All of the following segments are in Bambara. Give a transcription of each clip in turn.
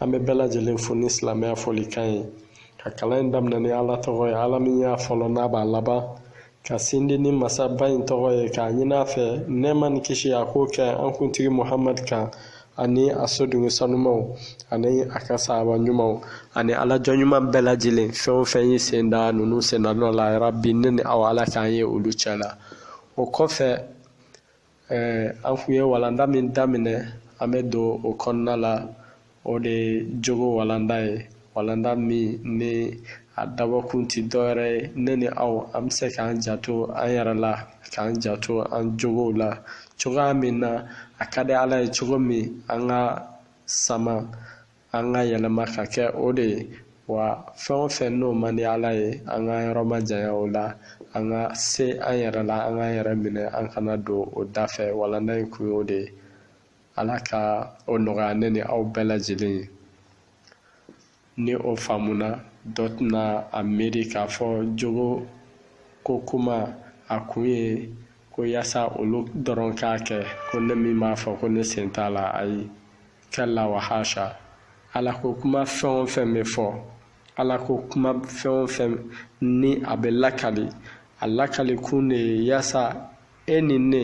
an bɛ bɛɛ lajɛlen fo ni silamɛya fɔlikan ye ka kalan in daminɛ ni ala tɔgɔ ye ala min y'a fɔlɔ n'a b'a laban ka sindi ni masaba in tɔgɔ ye k'a ɲini a fɛ nɛɛma ni kisi a k'o kɛ an kuntigi muhamadu kan ani a sodenw sanumaw ani a ka sahaba ɲumanw ani ala jɔn ɲuman bɛɛ lajɛlen fɛn o fɛn y'i sen da ninnu senda nɔ la yarabi ne ni aw ala k'an ye olu cɛ la o kɔfɛ an kun ye walanda min daminɛ an bɛ don o kɔnɔna la o de ye jogo walanda ye walanda min ni a dabɔkun tɛ dɔwɛrɛ ye ne ni aw an bɛ se k'an janto an yɛrɛ la k'an janto an jogow la cogoya min na a ka di ala ye cogo min an ka sama an ka yɛlɛma ka kɛ o de ye wa fɛn o fɛn n'o man di ala ye an ka yɔrɔ majanya o la an ka se an yɛrɛ la an k'an yɛrɛ minɛ an kana don o dafɛ walanda in kun y'o de ye ala ka o nɔgɔya ne ni aw bɛɛ lajɛlen ye ni o faamuna dɔ tɛna a miiri k'a fɔ jogo ko kuma a kun ye ko yaasa olu dɔrɔn k'a kɛ ko ne min b'a fɔ ko ne sen t'a la ayi kalla wa hasha ala ko kuma fɛn o fɛn bɛ fɔ ala ko kuma fɛn o fɛn ni a bɛ lakali a lakali kun de ye yaasa e ni ne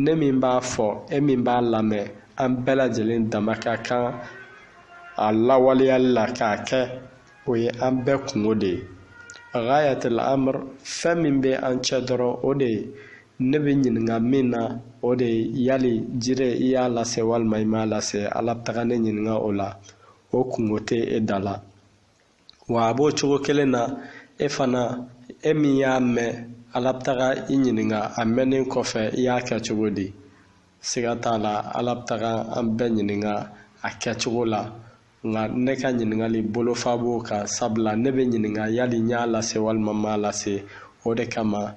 ne min b'a fɔ e min b'a lamɛn an bɛɛ lajɛlen dama ka kan a lawaleyali la k'a kɛ o ye an bɛɛ kungo de ye ghayatul amr fɛn min bɛ an cɛ dɔrɔn o de ye ne bɛ ɲininka min na o de ye yali jire i y'a lase walima i m'a lase ala bɛ taga ne ɲininka o la o kungo tɛ e da la wa a b'o cogo kelen na e fana e min y'a mɛn ala bɛ taga i ɲininka a mɛnnen kɔfɛ i y'a kɛ cogo di siga t'a la ala bɛ taga an bɛɛ ɲininka a kɛcogo la nka ne ka ɲininkali bolofa b'o kan sabula ne bɛ ɲininka yali n y'a lase walima n m'a lase o de kama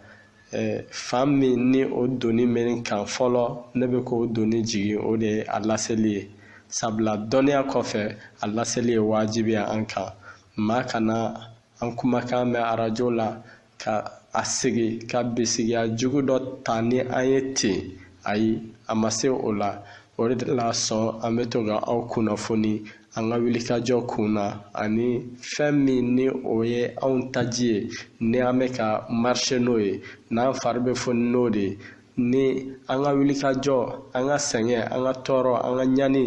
eh, fan min ni o doni bɛ n kan fɔlɔ ne bɛ k'o doni jigin o de ye a laseli ye sabula dɔnniya kɔfɛ a laseli ye wajibi ye an kan maa kana an kumakan mɛn arajo la ka a sigi ka bisigiya jugu dɔ ta ni an ye ten ayi a ma se o la o de la sɔn an bɛ to ka aw kunnafoni an ka wilikajɔ kun na ani fɛn min ni o ye anw taji ye ni an bɛ ka marcher n'o ye n'an fari bɛ foni n'o de ye ni an ka wulikajɔ an ka sɛgɛn an ka tɔɔrɔ an ka ɲani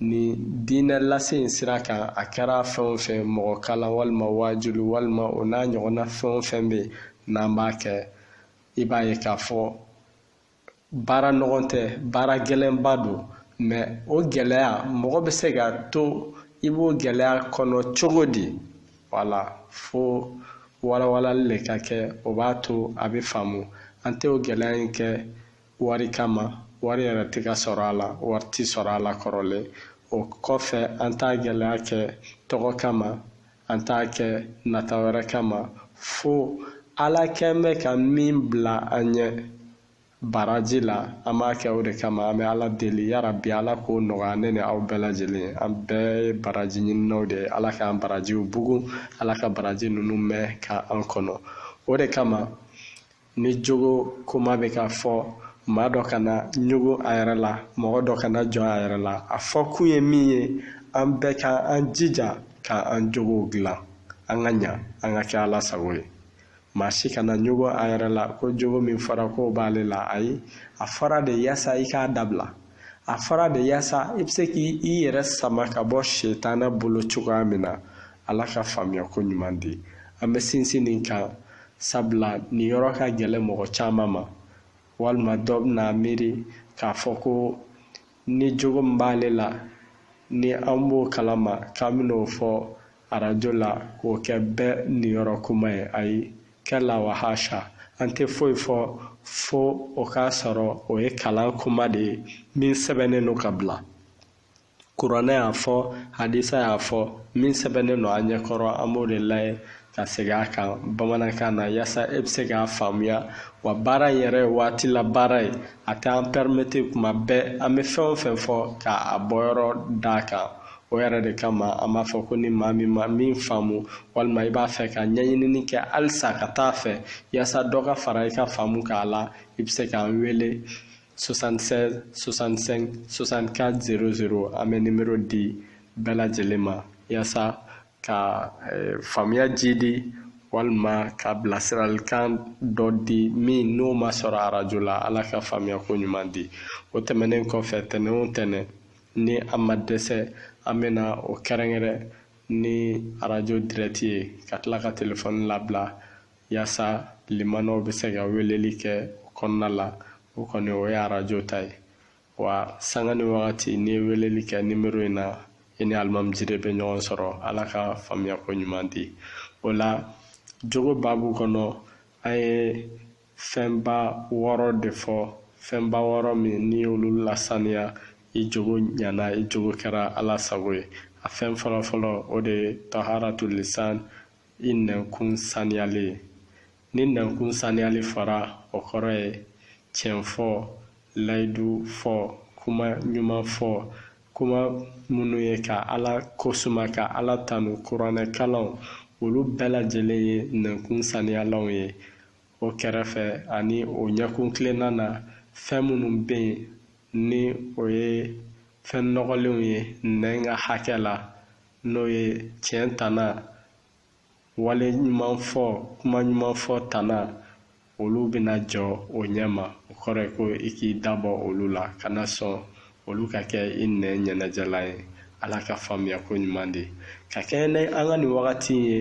ni diinɛ lase in sira kan a kɛra fɛn o fɛn mɔgɔ kalan walima waajuli walima o n'a ɲɔgɔnna fɛn o fɛn bɛ yen n'an b'a kɛ i b'a ye k'a fɔ baara nɔgɔn tɛ baara gɛlɛnba don mɛ o gɛlɛya mɔgɔ bɛ se ka to i b'o gɛlɛya kɔnɔ cogo di wala fo walawalali ka kɛ o b'a to a bɛ faamu an tɛ o gɛlɛya in kɛ wari kama wari yɛrɛ tɛ ka sɔrɔ a la wari tɛ sɔrɔ a la kɔrɔlen o kɔfɛ an t'a gɛlɛya kɛ tɔgɔ kama an t'a kɛ nata wɛrɛ kama fo ala kɛn bɛ ka min bila an ɲɛ baraji la an b'a kɛ o de kama an bɛ ala deli yarabi ala k'o nɔgɔya ne ni aw bɛɛ lajɛlen an bɛɛ ye baraji ɲininaw de ye ala k'an barajiw bugun ala ka baraji ninnu mɛn ka an kɔnɔ o de kama ni jogo kuma bɛ ka fɔ maa dɔ kana ɲugu a yɛrɛ la mɔgɔ dɔ kana jɔ a yɛrɛ la a fɔ kun ye min ye an bɛɛ ka an jija ka an jogow dilan an ka ɲa an ka kɛ ala sago ye maa si kana ɲugu a yɛrɛ la ko jogo min fɔra k'o b'ale la ayi a fɔra de yaasa i k'a dabila a fɔra de yaasa i bɛ se k'i yɛrɛ sama ka bɔ setana bolo cogoya min na ala ka faamuya ko ɲuman di an bɛ sinsin nin kan sabula nin yɔrɔ ka gɛlɛn mɔgɔ caman ma walima dɔ bɛna miiri k'a fɔ ko ni jogo min b'ale la ni an b'o kalama k'an bɛn'o fɔ arajo la k'o kɛ bɛɛ niyɔrɔ kuma ye ayi kɛla wa hasha an tɛ foyi fɔ fo o k'a sɔrɔ o ye kalan kuma de ye min sɛbɛnnen don ka bila kuranɛ y'a fɔ hadisa y'a fɔ min sɛbɛnnen don an ɲɛkɔrɔ an b'o de lajɛ ka segin a kan bamanankan na yaasa e bɛ se k'a faamuya wa baara in yɛrɛ ye waati la baara ye a t'an pɛrimete kuma bɛɛ an bɛ fɛn o fɛn fɔ k'a bɔyɔrɔ d'a kan o yɛrɛ de kama an b'a fɔ ko ni maa min ma min faamu walima i b'a fɛ ka ɲɛɲinini kɛ halisa ka taa fɛ yaasa dɔ ka fara i ka faamu k'a la i bɛ se k'an wele 76 65 64 00 an bɛ nimero di bɛɛ lajɛlen ma yaasa ka eh, faamuya jiidi walima ka bilasiralikan dɔ di min n'o ma sɔrɔ arajo la ala ka faamuya ko ɲuman di o tɛmɛnen kɔfɛ tɛnɛn o tɛnɛn ni an ma dɛsɛ an bɛna o kɛrɛnkɛrɛn ni arajo dirɛti ye ka tila ka telefɔni labila yaasa limanaw bɛ se ka weleli kɛ o kɔnɔna la o kɔni o ye arajo ta ye wa sanga ni wagati n'i ye weleli kɛ nimero in na i ni alimami jire bɛ ɲɔgɔn sɔrɔ ala ka faamuya ko ɲuman di o la jogo baabu kɔnɔ an ye fɛnba wɔɔrɔ de fɔ fɛnba wɔɔrɔ min n'i y'olu lasaniya i jogo ɲana i jogo kɛra ala sago ye a fɛn fɔlɔfɔlɔ o de ye taharatu lisan i nɛnkun saniyali ye ni nɛnkun saniyali fɔra o kɔrɔ ye tiɲɛ fɔ layidu fɔ kuma ɲuman fɔ kuma minnu ye ka ala kosuma ka ala tanu kuranɛ kalan olu bɛɛ lajɛlen ye nɛnkun saniyalanw ye o kɛrɛfɛ ani o ɲɛ kuntilenna na fɛn minnu bɛ yen ni o ye fɛn nɔgɔlenw ye nɛn ka hakɛ la n'o ye tiɲɛ tana wale ɲuman fɔ kuma ɲuman fɔ tana olu bɛna jɔ o ɲɛ ma o kɔrɔ ye ko i k'i da bɔ olu la kana sɔn olu ka kɛ i nɛn ɲɛnajɛlan ye ala ka faamuya ko ɲuman di ka kɛɲɛ ni an ka nin wagati ye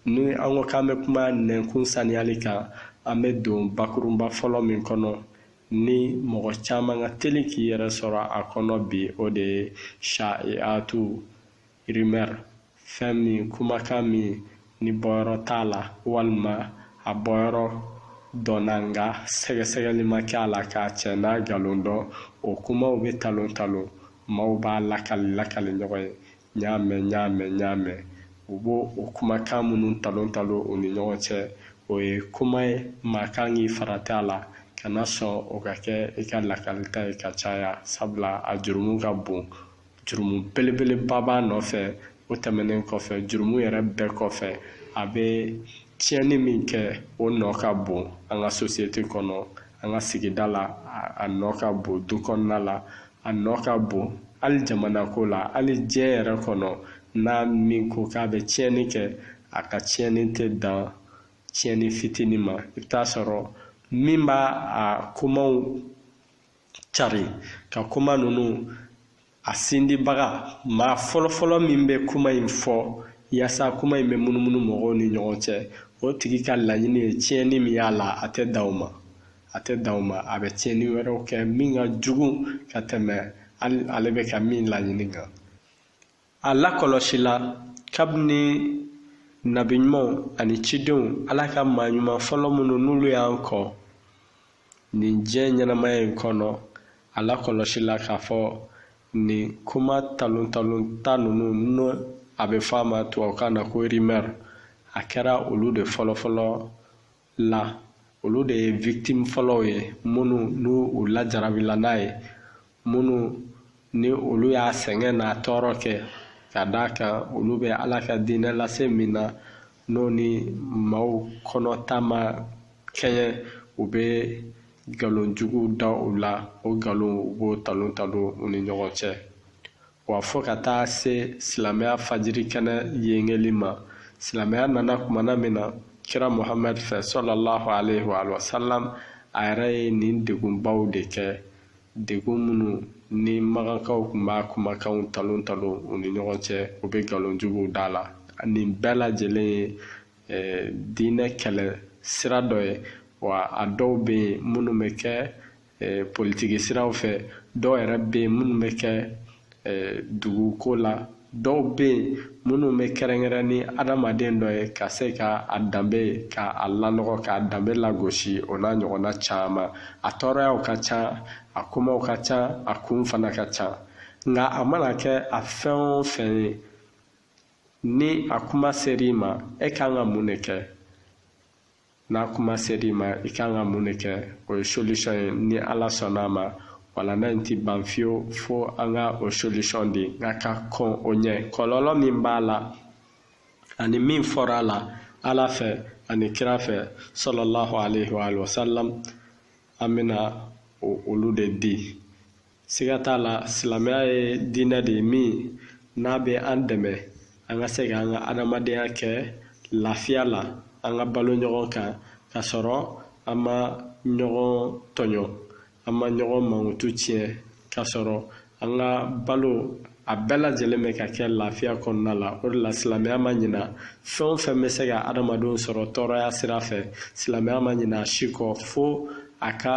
ni an ko k'an bɛ kuma nɛnkun saniyali kan an bɛ don bakurunba fɔlɔ min kɔnɔ ni mɔgɔ caman ka teli k'i yɛrɛ sɔrɔ a kɔnɔ bi o de ye sha'iatu rimɛri fɛn min kumakan min ni bɔyɔrɔ t'a la walima a bɔyɔrɔ dɔnna nka sɛgɛsɛgɛli ma kɛ a la k'a tiɲɛ n'a nkalon dɔn o kumaw bɛ talon talon maaw b'a lakali lakali ɲɔgɔn ye n y'a mɛn n y'a mɛn n y'a mɛn u b'o o kumakan minnu talon talon u ni ɲɔgɔn cɛ o ye kuma ye maa kan k'i farati a la kana sɔn o ka kɛ i ka lakalita ye ka caya sabula a jurumu ka bon jurumu belebeleba b'a nɔfɛ o tɛmɛnen kɔfɛ jurumu yɛrɛ bɛɛ kɔfɛ a bɛ tiɲɛni min kɛ o nɔ ka bon an ka sosiyete kɔnɔ an ka sigida la a nɔ ka bon du kɔnɔna la a nɔ ka bon hali jamanako la hali diɲɛ yɛrɛ kɔnɔ n'a min ko k'a bɛ tiɲɛni kɛ a ka tiɲɛni tɛ dan tiɲɛni fitinin ma i bɛ t'a sɔrɔ min b'a kumaw cari ka kuma ninnu a sindibaga maa fɔlɔfɔlɔ min bɛ kuma in fɔ yaasa kuma in bɛ munumunu mɔgɔw ni ɲɔgɔn cɛ o tigi ka laɲini ye tiɲɛni min y'a la a tɛ dan o ma a tɛ dan o ma a bɛ tiɲɛni wɛrɛw kɛ min ka jugu ka tɛmɛ ale bɛ ka min laɲini kan A lakɔlɔsila kabini nabi ɲumanw ani cidenw ala ka maa ɲuman fɔlɔ minnu n'olu y'an kɔn nin diɲɛ ɲɛnamaya in kɔnɔ a lakɔlɔsila k'a fɔ nin kuma talon talon ta ninnu n'o a bɛ fɔ a ma tubabukan na ko rimɛr a kɛra olu de fɔlɔfɔlɔ la olu de ye victime fɔlɔw ye minnu n'u lajarabila n'a ye minnu ni olu y'a sɛgɛn n'a tɔɔrɔ kɛ ka d'a kan olu bɛ ala ka diinɛ lase min na n'o ni maaw kɔnɔ ta ma kɛɲɛ u bɛ nkalon jugu da u la o nkalon u b'o talon talon u ni ɲɔgɔn cɛ Wa fo ka taa se silamɛya fajiri kɛnɛ yengeli ma silamɛya nana kumana min na kira muhamad fɛ sɔlɔlahu alaihi wa sallam a yɛrɛ ye nin degunbaw de kɛ degun minnu ni makankaw tun b'a kumakanw talon talon u ni ɲɔgɔn cɛ u bɛ nkalon juguw d'a la nin bɛɛ lajɛlen ye eh, diinɛ kɛlɛ sira dɔ ye wa a dɔw bɛ yen minnu bɛ kɛ eh, politiki siraw fɛ dɔw yɛrɛ bɛ yen minnu bɛ kɛ eh, duguko la dɔw bɛ yen minnu bɛ kɛrɛnkɛrɛn ni adamaden dɔ ye ka se ka a danbe ka a lanɔgɔ k'a danbe lagosi o n'a ɲɔgɔnna caman a tɔɔrɔyaw ka ca a kumaw ka ca a kun fana ka ca nka a mana kɛ a fɛn o fɛn ye ni a kuma ser'i ma e kan ka mun de kɛ n'a kuma ser'i ma i kan ka mun de kɛ o ye solution ye ni ala sɔnn'a ma walanda in ti ban fiyewu fo an ka o solution di nka ka kɔn o ɲɛ kɔlɔlɔ min b'a la ani min fɔra a la ala fɛ ani kira fɛ sɔlɔlahu alaihi wa sallam an bɛna olu de di siga t'a la silamɛya ye diinɛ de ye min n'a bɛ an dɛmɛ an ka se ka an ka adamadenya kɛ lafiya la an ka balo ɲɔgɔn kan ka sɔrɔ an ma ɲɔgɔn tɔɲɔ an ma ɲɔgɔn mankutu tiɲɛ ka sɔrɔ an ka balo a bɛɛ lajɛlen bɛ ka kɛ lafiya kɔnɔna la o de la silamɛya ma ɲina fɛn o fɛn bɛ se ka adamadenw sɔrɔ tɔɔrɔya sira fɛ silamɛya ma ɲina a si kɔ fo a ka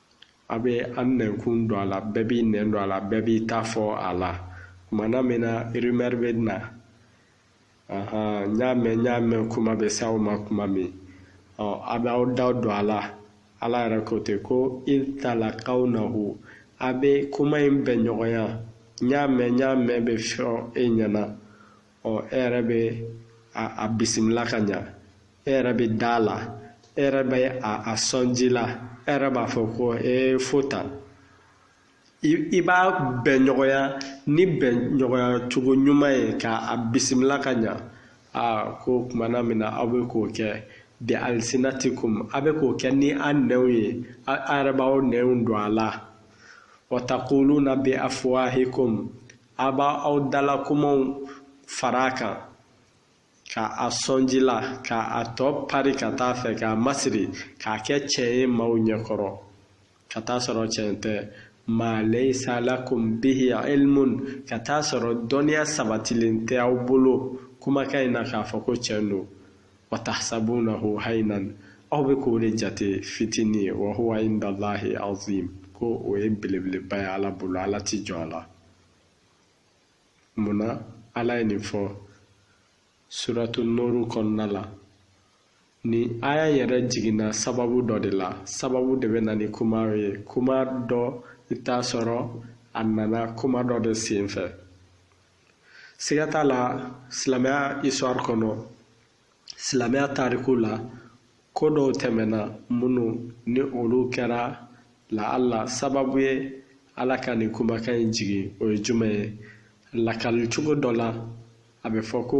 a bɛ an nɛnkun don a la bɛɛ b'i nɛn don a la bɛɛ b'i ta fɔ a la kumana min na rumeur bɛ na n y'a mɛn n y'a mɛn kuma bɛ s'aw ma kuma min ɔ a bɛ aw da don a la ala yɛrɛ ko ten ko i talakawnahu a bɛ kuma in bɛn ɲɔgɔnya n y'a mɛn n y'a mɛn bɛ fɔ e ɲɛna ɔ e yɛrɛ bɛ a bisimila ka ɲa e yɛrɛ bɛ da a la e yɛrɛ bɛ a sɔn ji la e yɛrɛ b'a fɔ ko e fo tan i b'a bɛn ɲɔgɔnya ni bɛn ɲɔgɔnya cogo ɲuman ye ka a bisimila ka ɲa aa ko kumana min na aw bɛ k'o kɛ bi alsinatikum a bɛ k'o kɛ ni a nɛnw ye a yɛrɛ b'aw nɛnw don a la wa taquluna bi afwahikum a b'aw dalakumaw fara a kan ka a sɔn ji la ka a tɔ pari ka taa fɛ k'a masiri k'a kɛ cɛn ye maaw ɲɛkɔrɔ ka taa sɔrɔ cɛn tɛ ma laysa lakum bihi ilmun ka taa sɔrɔ dɔnniya sabatilen tɛ aw bolo kumakan in na k'a fɔ ko cɛn don wa tahsabunahu haynan aw bɛ k'o de jate fitini ye wa huwa inda allahi azim ko o ye belebeleba ye ala bolo ala ti jɔ a la munna ala ye nin fɔ suratu nuru kɔnɔna la nin aya yɛrɛ jiginna sababu dɔ de la sababu de bɛ na ni kuma ye kuma dɔ i t'a sɔrɔ a nana kuma dɔ de senfɛ siga t'a la silamɛya histoire kɔnɔ silamɛya tariku la ko dɔw tɛmɛna minnu ni olu kɛra la ala sababu ye ala ka nin kumakan in jigin o ye jumɛn ye lakali cogo dɔ la a bɛ fɔ ko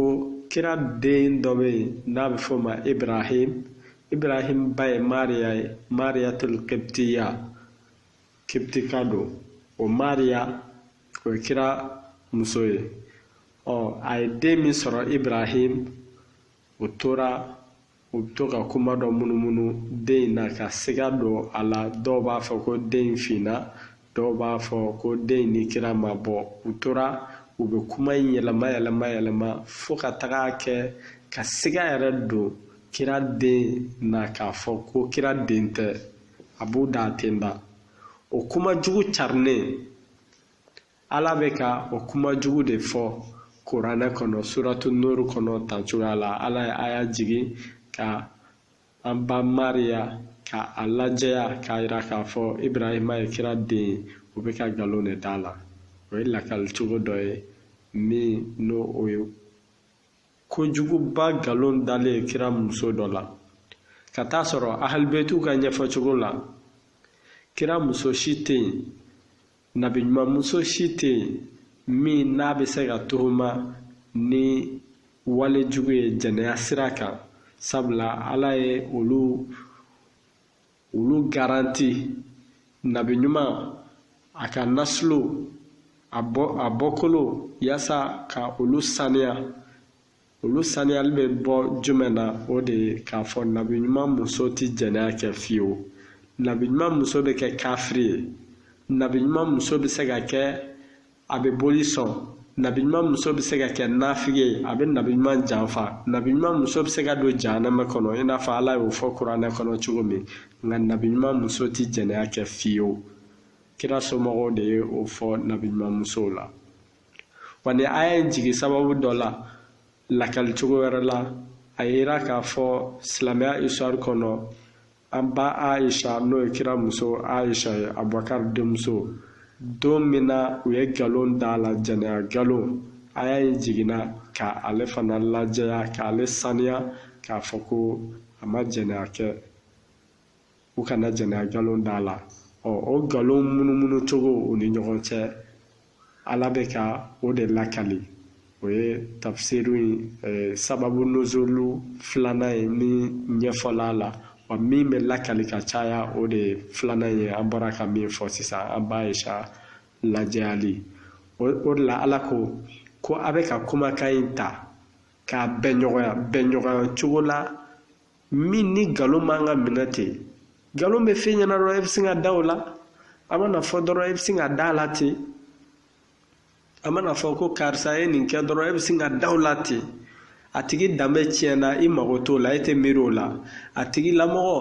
kira den dɔ bɛ yen n'a bɛ fɔ o ma ibrahim ibrahim ba ye mariya ye mariyatul kibtiya kibtika don o mariya o ye kira muso ye ɔ a ye den min sɔrɔ ibrahim u tora u bɛ to ka kuma dɔ munumunu den in na ka siga don a la dɔw b'a fɔ ko den in finna dɔw b'a fɔ ko den in ni kira ma bɔ u tora u bɛ kuma in yɛlɛma yɛlɛma yɛlɛma fo ka taga kɛ ka siga yɛrɛ don kira den na k'a fɔ ko kira den tɛ a b'u da ten da o kuma jugu carinen ala bɛ ka o kuma jugu de fɔ kuranɛ kɔnɔ suratu nuru kɔnɔ tan cogoya la ala ye aya jigin ka an ba mariya ka a lajɛya k'a yira k'a fɔ ibrahima ye kira den ye u bɛ ka nkalon de d'a la o ye lakali cogo dɔ ye min n'o o ye kojuguba nkalon dalen kira muso dɔ la ka taa sɔrɔ ahalibetu ka ɲɛfɔcogo la kira muso si tɛ yen nabi ɲuman muso si tɛ yen min n'a bɛ se ka tuhuma ni wale jugu ye jɛnɛya sira kan sabula ala ye olu olu garanti nabi ɲuman a ka nasilo a bɔkolo yaasa ka olu saniya olu saniyali bɛ bɔ jumɛn na o de ye k'a fɔ nabi ɲuman muso ti jɛnɛya kɛ fiyewu nabi ɲuman muso bɛ kɛ kafiri ye nabi ɲuman muso bɛ se ka kɛ a bɛ boli sɔn nabi ɲuman muso bɛ se ka kɛ nafigi ye a bɛ nabi ɲuman janfa nabi ɲuman muso bɛ se ka don jahanama kɔnɔ i n'a fɔ ala y'o fɔ kuranɛ kɔnɔ cogo min nka nabi ɲuman muso tɛ jɛnɛya kɛ fiyewu kira somɔgɔw de ye o fɔ nabi ɲuman musow la wa nin aya in jigin sababu dɔ la lakali cogo wɛrɛ la a y'a yira k'a fɔ silamɛya histoire kɔnɔ an ba aisha n'o ye kira muso aisha ye abubakar denmuso don min na u ye nkalon da a la jɛnɛya nkalon aya in jiginna ka ale fana lajɛya k'ale saniya k'a fɔ ko a ma jɛnɛya kɛ u kana jɛnɛya nkalon da a la ɔ o nkalon munumunu cogo u ni ɲɔgɔn cɛ ala bɛ ka o de lakali o ye tafsiru in eh, sababu nuzulu filanan ye min ɲɛfɔla a la wa min bɛ lakali ka caya o de ye filanan ye an bɔra ka min fɔ sisan an ba aisha lajɛyali o de la ala ko ko a bɛ ka kumakan in ta k'a bɛnɲɔgɔnya bɛnɲɔgɔnya cogo la min ni nkalon man ka minɛ ten nkalon bɛ fɔ e ɲɛna dɔrɔn e bɛ sin ka da o la a mana fɔ dɔrɔn e bɛ sin ka da a la ten a mana fɔ ko karisa ye nin kɛ dɔrɔn e bɛ sin ka da o la ten a tigi danbe tiɲɛna i mago t'o la e tɛ miiri o la a tigi lamɔgɔ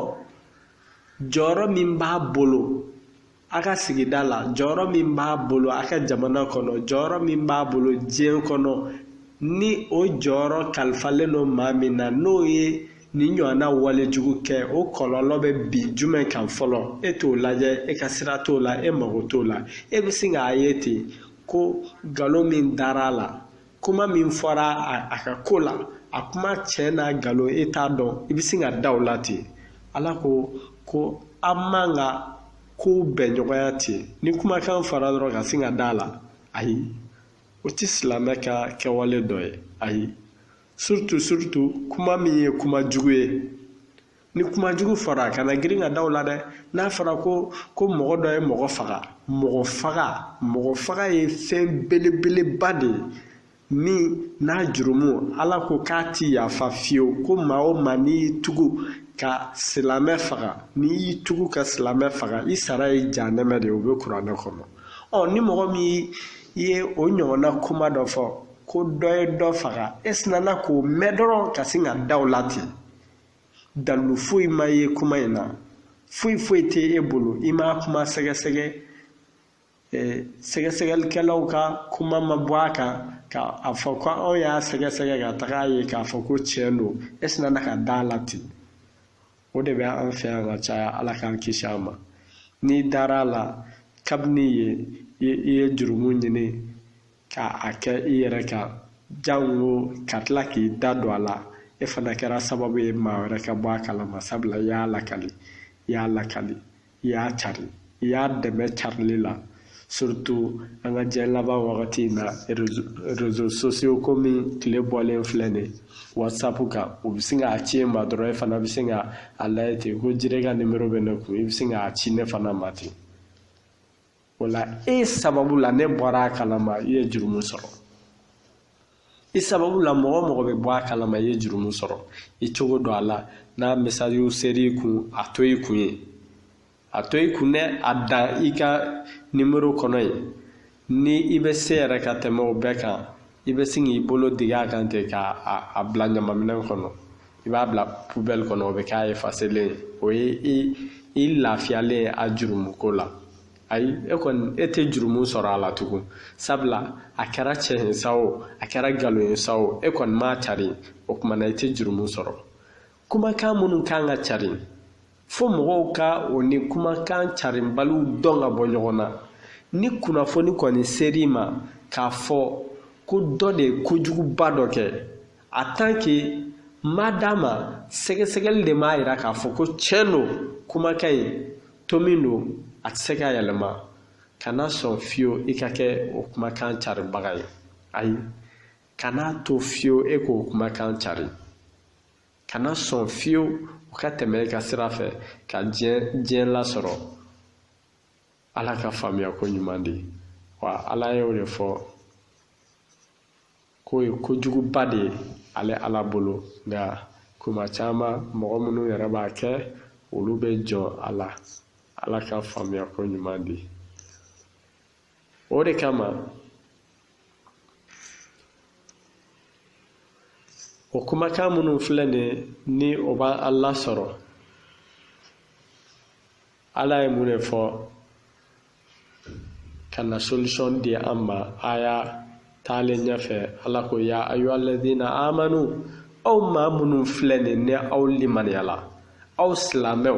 jɔyɔrɔ min b'a bolo a ka sigida la jɔyɔrɔ min b'a bolo a ka jamana kɔnɔ jɔyɔrɔ min b'a bolo diɲɛ kɔnɔ ni o jɔyɔrɔ kalifalen don maa min na n'o ye nin ɲɔgɔnna wale jugu kɛ o kɔlɔlɔ bɛ bin jumɛn kan fɔlɔ e t'o lajɛ e ka sira t'o la e mago t'o la e bɛ sin k'a ye ten ko nkalon min dara a la kuma min fɔra a ka ko la a kuma tiɲɛ n'a nkalon e t'a dɔn i bɛ sin ka da o la ten ala ko ko an man ka kow bɛnɲɔgɔnya ten ni kumakan fɔra dɔrɔn ka sin ka da a la ayi o tɛ silamɛ ka kɛwale dɔ ye ayi surtout surtout kuma min ye kuma jugu ye ni kuma jugu fɔra kana girin ka da o la dɛ n'a fɔra ko ko mɔgɔ dɔ ye mɔgɔ faga mɔgɔ faga mɔgɔ faga ye fɛn belebeleba de ye min n'a jurumu ala ko k'a ti yafa fiyewu ko maa o maa n'i y'i tugu ka silamɛ faga n'i y'i tugu ka silamɛ faga i sara ye jahanɛmɛ de ye o bɛ kuranɛ kɔnɔ ɔ ni mɔgɔ min ye o ɲɔgɔnna kuma dɔ fɔ ko dɔ ye dɔ faga e sinana k'o mɛn dɔrɔn ka sin ka da o la ten dalu foyi ma ye kuma in na foyi foyi tɛ e bolo i m'a kuma sɛgɛsɛgɛ sɛgɛsɛgɛlikɛlaw ka kuma ma bɔ a kan ka a fɔ ko anw y'a sɛgɛsɛgɛ ka taga a ye k'a fɔ ko tiɲɛ don e sinana ka da a la ten o de bɛ an fɛ yan ka caya ala k'an kisi a ma n'i dara a la kabini yen i ye jurumu ɲini ka a kɛ i yɛrɛ kan jango ka tila k'i da don a la e fana kɛra sababu ye maa wɛrɛ ka bɔ a kalama sabula i y'a lakali i y'a lakali i y'a cari i y'a dɛmɛ carili la surtout an ka diɲɛ laban wagati in na réseaux sociaux komi tile bɔlen filɛ nin ye whatsapp kan u bɛ sin k'a ci e ma dɔrɔn e fana bɛ sin ka a layɛ ten ko jire ka nimero bɛ ne kun i bɛ sin k'a ci ne fana ma ten o la e sababu la ne bɔra a kalama i ye jurumu sɔrɔ i sababu la mɔgɔ o mɔgɔ bɛ bɔ a kalama i ye jurumu sɔrɔ i cogo dɔn a la n'a message ser'i kun a to i kun yen a to i kun dɛ a dan i ka nimero kɔnɔ yen ni i bɛ se yɛrɛ ka tɛmɛ o bɛɛ kan i bɛ sin k'i bolo digi a kan ten ka a bila ɲamaminɛn kɔnɔ i b'a bila poubelle kɔnɔ o bɛ k'a effacelen ye o ye i lafiyalen ye a jurumuko la ayi e kɔni e tɛ jurumu sɔrɔ a la tugun sabula a kɛra cɛn ye sa o a kɛra nkalon ye sa o e kɔni m'a cari o tuma na i tɛ jurumu sɔrɔ kumakan minnu kan ka cari fo mɔgɔw ka o ni kumakan carinbaliw dɔn ka bɔ ɲɔgɔn na ni kunnafoni kɔni ser'i ma k'a fɔ ko dɔ de ye kojuguba dɔ kɛ en tant qu'i ma d'a ma sɛgɛsɛgɛli de m'a yira k'a fɔ ko tiɲɛ don kumakan in to min don a tɛ se ka yɛlɛma kana sɔn fiyewu i ka kɛ o kumakan caribaga ye ayi kana to fiyewu e k'o kumakan cari kana sɔn fiyewu u ka tɛmɛ i ka sira fɛ ka diɲɛ diɲɛ lasɔrɔ ala ka faamuyako ɲuman di wa ala ye o de fɔ k'o ye kojuguba de ye ale ala bolo nka kuma caman mɔgɔ minnu yɛrɛ b'a kɛ olu bɛ jɔn a la ala ka faamuyako ɲuman di o de kama o kumakan minnu filɛ nin ye ni o b'an lasɔrɔ ala ye mun de fɔ ka na solution di an ma aya taalen ɲɛfɛ ala ko ya ayyuha alladina amanu aw maa minnu filɛ nin ni aw limaniyala aw silamɛw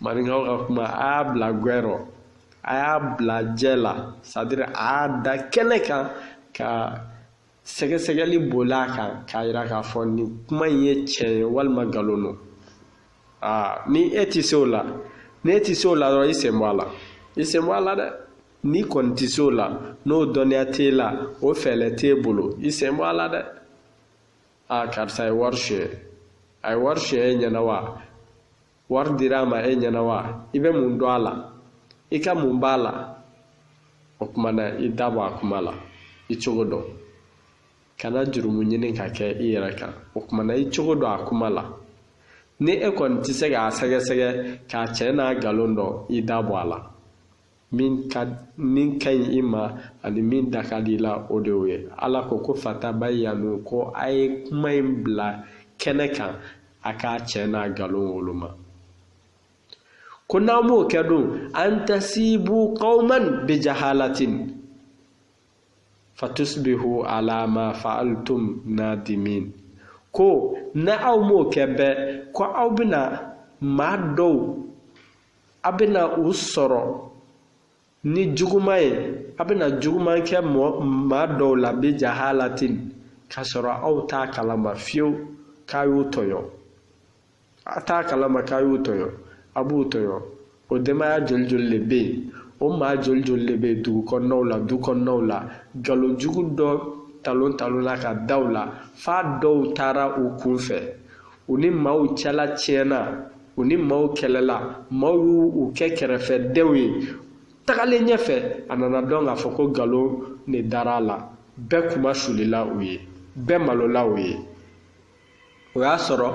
maninkaw ka kuma a y'a bila gwɛ rɔ a y'a bila jɛ la c'est-à-dire a y'a da kɛnɛ kan ka sɛgɛsɛgɛli boli a kan k'a yira k'a fɔ nin kuma in ye tiɲɛ ye walima nkalon don aa ni e tɛ se o la ni e tɛ se o la dɔrɔn i sen bɔ a la i sen bɔ a la dɛ n'i kɔni tɛ se o la n'o dɔnniya t'e la o fɛɛrɛ t'e bolo i sen bɔ a la dɛ aa karisa ye wari suɲɛ a ye wari suɲɛ e ɲɛna wa wari dira a ma e ɲɛna wa i bɛ mun dɔn a la i ka mun b'a la o tuma na i da bɔ a kuma la i cogo dɔn kana jurumu ɲini ka kɛ i yɛrɛ kan o tuma na i cogo dɔn a kuma la ni e kɔni tɛ se k'a sɛgɛsɛgɛ k'a tiɲɛ n'a nkalon dɔn i da bɔ a la min ka ɲi i ma ani min da ka di i la o de y'o ye ala ko ko fatabayyanu ko a ye kuma in bila kɛnɛ kan a k'a tiɲɛ n'a nkalon woloma ko n'aw m'o kɛ dun an tasibu qawman bijahalatin fatusbihu ala ma fa'altum nadimin ko ni aw m'o kɛ bɛɛ ko aw bɛna maa dɔw a bɛna u sɔrɔ ni juguman ye a bɛna juguman kɛ maa dɔw la bijahalatin k'a sɔrɔ aw t'a kalama fiyewu k'a y'u tɔɲɔ a t'a kalama k'a y'u tɔɲɔ a b'u tɔɲɔ o denbaya joli joli de bɛ yen o maa joli joli de bɛ yen dugu kɔnɔnaw la du kɔnɔnaw la nkalon jugu dɔ talon talon la ka da u la f'a dɔw taara u kun fɛ u ni maaw cɛla tiɲɛna u ni maaw kɛlɛla maaw y'u kɛ kɛrɛfɛdenw ye tagalen ɲɛfɛ a nana dɔn k'a fɔ ko nkalon ne dara a la bɛɛ kunmasulila u ye bɛɛ malola u ye o y'a sɔrɔ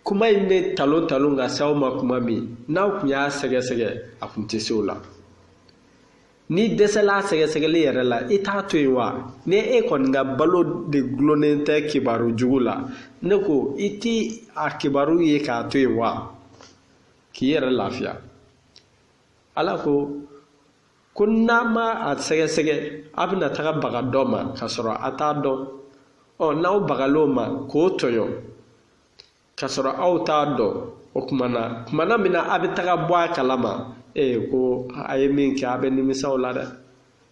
kuma in bɛ talon talon ka s'aw ma kuma min n'aw tun y'a sɛgɛsɛgɛ a tun tɛ se o la n'i dɛsɛla sɛgɛsɛgɛli yɛrɛ la i t'a to yen wa ni e kɔni ka balo de gulonnen tɛ kibaru jugu la ne ko i ti a kibaru ye k'a to yen wa k'i yɛrɛ lafiya ala ko ko n'a ma a sɛgɛsɛgɛ a bɛna taga baga dɔ ma k'a sɔrɔ a t'a dɔn ɔ n'aw bagal'o ma k'o tɔɲɔ k'a sɔrɔ aw t'a dɔn o tuma na tuma na min na a bɛ taga bɔ a kalama ee ko a ye min kɛ a bɛ nimisa o la dɛ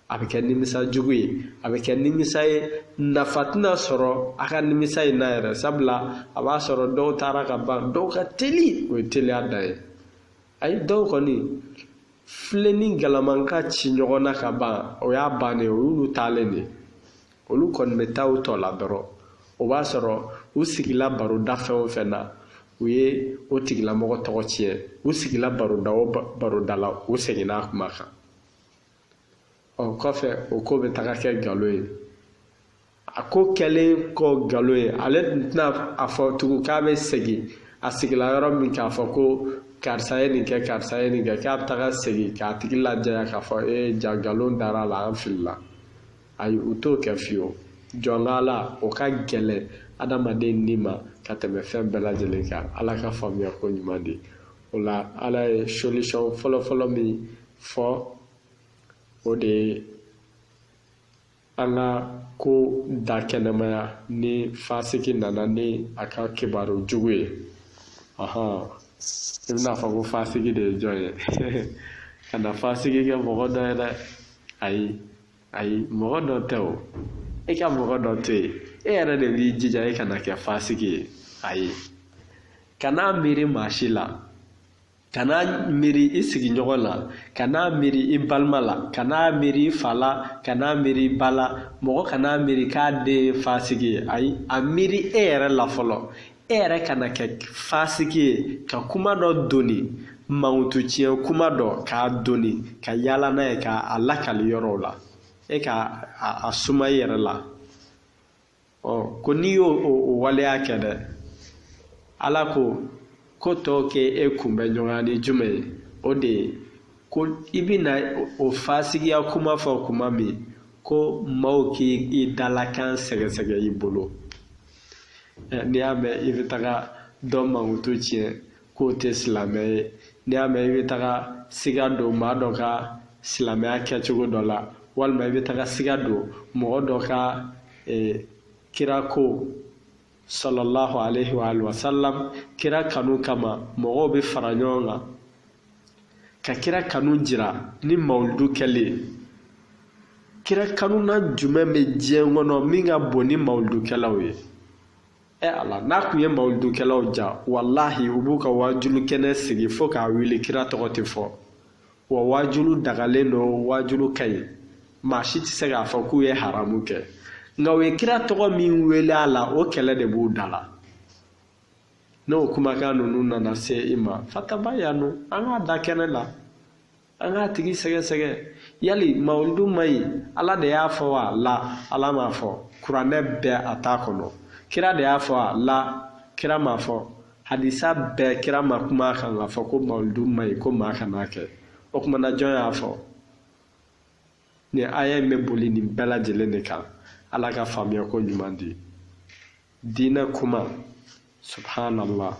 a bɛ kɛ nimisa jugu ye a bɛ kɛ nimisa ye nafa tɛna sɔrɔ a ka nimisa in na yɛrɛ sabula a b'a sɔrɔ dɔw taara ka ban dɔw ka teli o ye teliya dan ye ayi dɔw kɔni filen ni galama ka ci ɲɔgɔn na ka ban o y'a bannen o y'olu taalen de ye olu kɔni bɛ taa u tɔ la dɔrɔn o b'a sɔrɔ u sigila baroda fɛn o fɛn na u ye o tigilamɔgɔ tɔgɔ tiɲɛ u sigila baroda o baroda la u seginna a kuma kan ɔ kɔfɛ o ko bɛ taga kɛ nkalon ye a ko kɛlen kɔ nkalon ye ale tun tɛna a fɔ tugun k'a bɛ segin a sigila yɔrɔ min k'a fɔ ko karisa ye nin kɛ karisa ye nin kɛ k'a bɛ taga segin k'a tigi lajɛya k'a fɔ ee ja nkalon dara a la an filila ayi u t'o kɛ fiyewu jɔnkala o ka gɛlɛn adamaden ni ma ka tɛmɛ fɛn bɛɛ lajɛlen kan ala ka faamuya ko ɲuman di o la ala ye solution fɔlɔfɔlɔ min fɔ o de ye an ka ko dakɛnɛmaya ni fasiki nana ni a ka kibaru jugu ye ɔhɔn i bɛna fɔ ko fasiki de ye jɔn ye kana fasiki kɛ mɔgɔ dɔ ye dɛ ayi ayi mɔgɔ dɔ tɛ o e ka mɔgɔ dɔ to yen e yɛrɛ de b'i jija e kana kɛ fasigi ye ayi kana miiri maa si la kana miiri i sigiɲɔgɔn la kana miiri i balima la kana miiri i fa la kana miiri i ba la mɔgɔ kana miiri k'a den ye fasigi ye ayi a miiri e yɛrɛ la fɔlɔ E yɛrɛ kana kɛ fasiki ye ka kuma dɔ doni mankutu tiɲɛ kuma dɔ k'a doni ka yaala n'a ye k'a lakali yɔrɔw la e ka a suma i yɛrɛ la ɔ ko n'i y'o waleya kɛ dɛ ala ko ko tɔw kɛ e kunbɛ ɲɔgɔnya ni jumɛn ye o de ye ko i bɛna o fasigiya kuma fɔ kuma min ko maaw k'i dalakan sɛgɛsɛgɛ i bolo ɛ n'i y'a mɛn i bɛ taga dɔ mankutu tiɲɛ k'o tɛ silamɛ ye n'i y'a mɛn i bɛ taga siga don maa dɔ ka silamɛya kɛcogo dɔ la walima i bɛ taga siga don mɔgɔ dɔ ka kira ko sallallahu alaihi wa sallam kira kanu kama mɔgɔw bɛ fara ɲɔgɔn kan ka kira kanu jira ni mawuludu kɛli ye kira kanuna jumɛn bɛ diɲɛ kɔnɔ min ka bon ni mawuludukɛlaw ye ɛ ala n'a kun ye mawuludukɛlaw ja walahi u b'u ka waajulu kɛnɛ sigi fo k'a wuli kira tɔgɔ tɛ fɔ wa waajulu dagalen don waajulu ka ɲi maa si tɛ se k'a fɔ k'u ye haramu kɛ nka u ye kira tɔgɔ min wele a la o kɛlɛ de b'u da la n'o kumakan ninnu nana se i ma fatabayanu an k'a da kɛnɛ la an k'a tigi sɛgɛsɛgɛ yali mawulidu ma ɲi ala de y'a fɔ wa la ala m'a fɔ kuranɛ bɛɛ a t'a kɔnɔ kira de y'a fɔ wa la kira m'a fɔ hadisa bɛɛ kira ma kuma a kan k'a fɔ ko mawulidu ma ɲi ko maa kan'a kɛ o tuma na jɔn y'a fɔ nin aya in bɛ boli nin bɛɛ lajɛlen de kan ala ka faamuyako ɲuman di diinɛ kuma subhanallah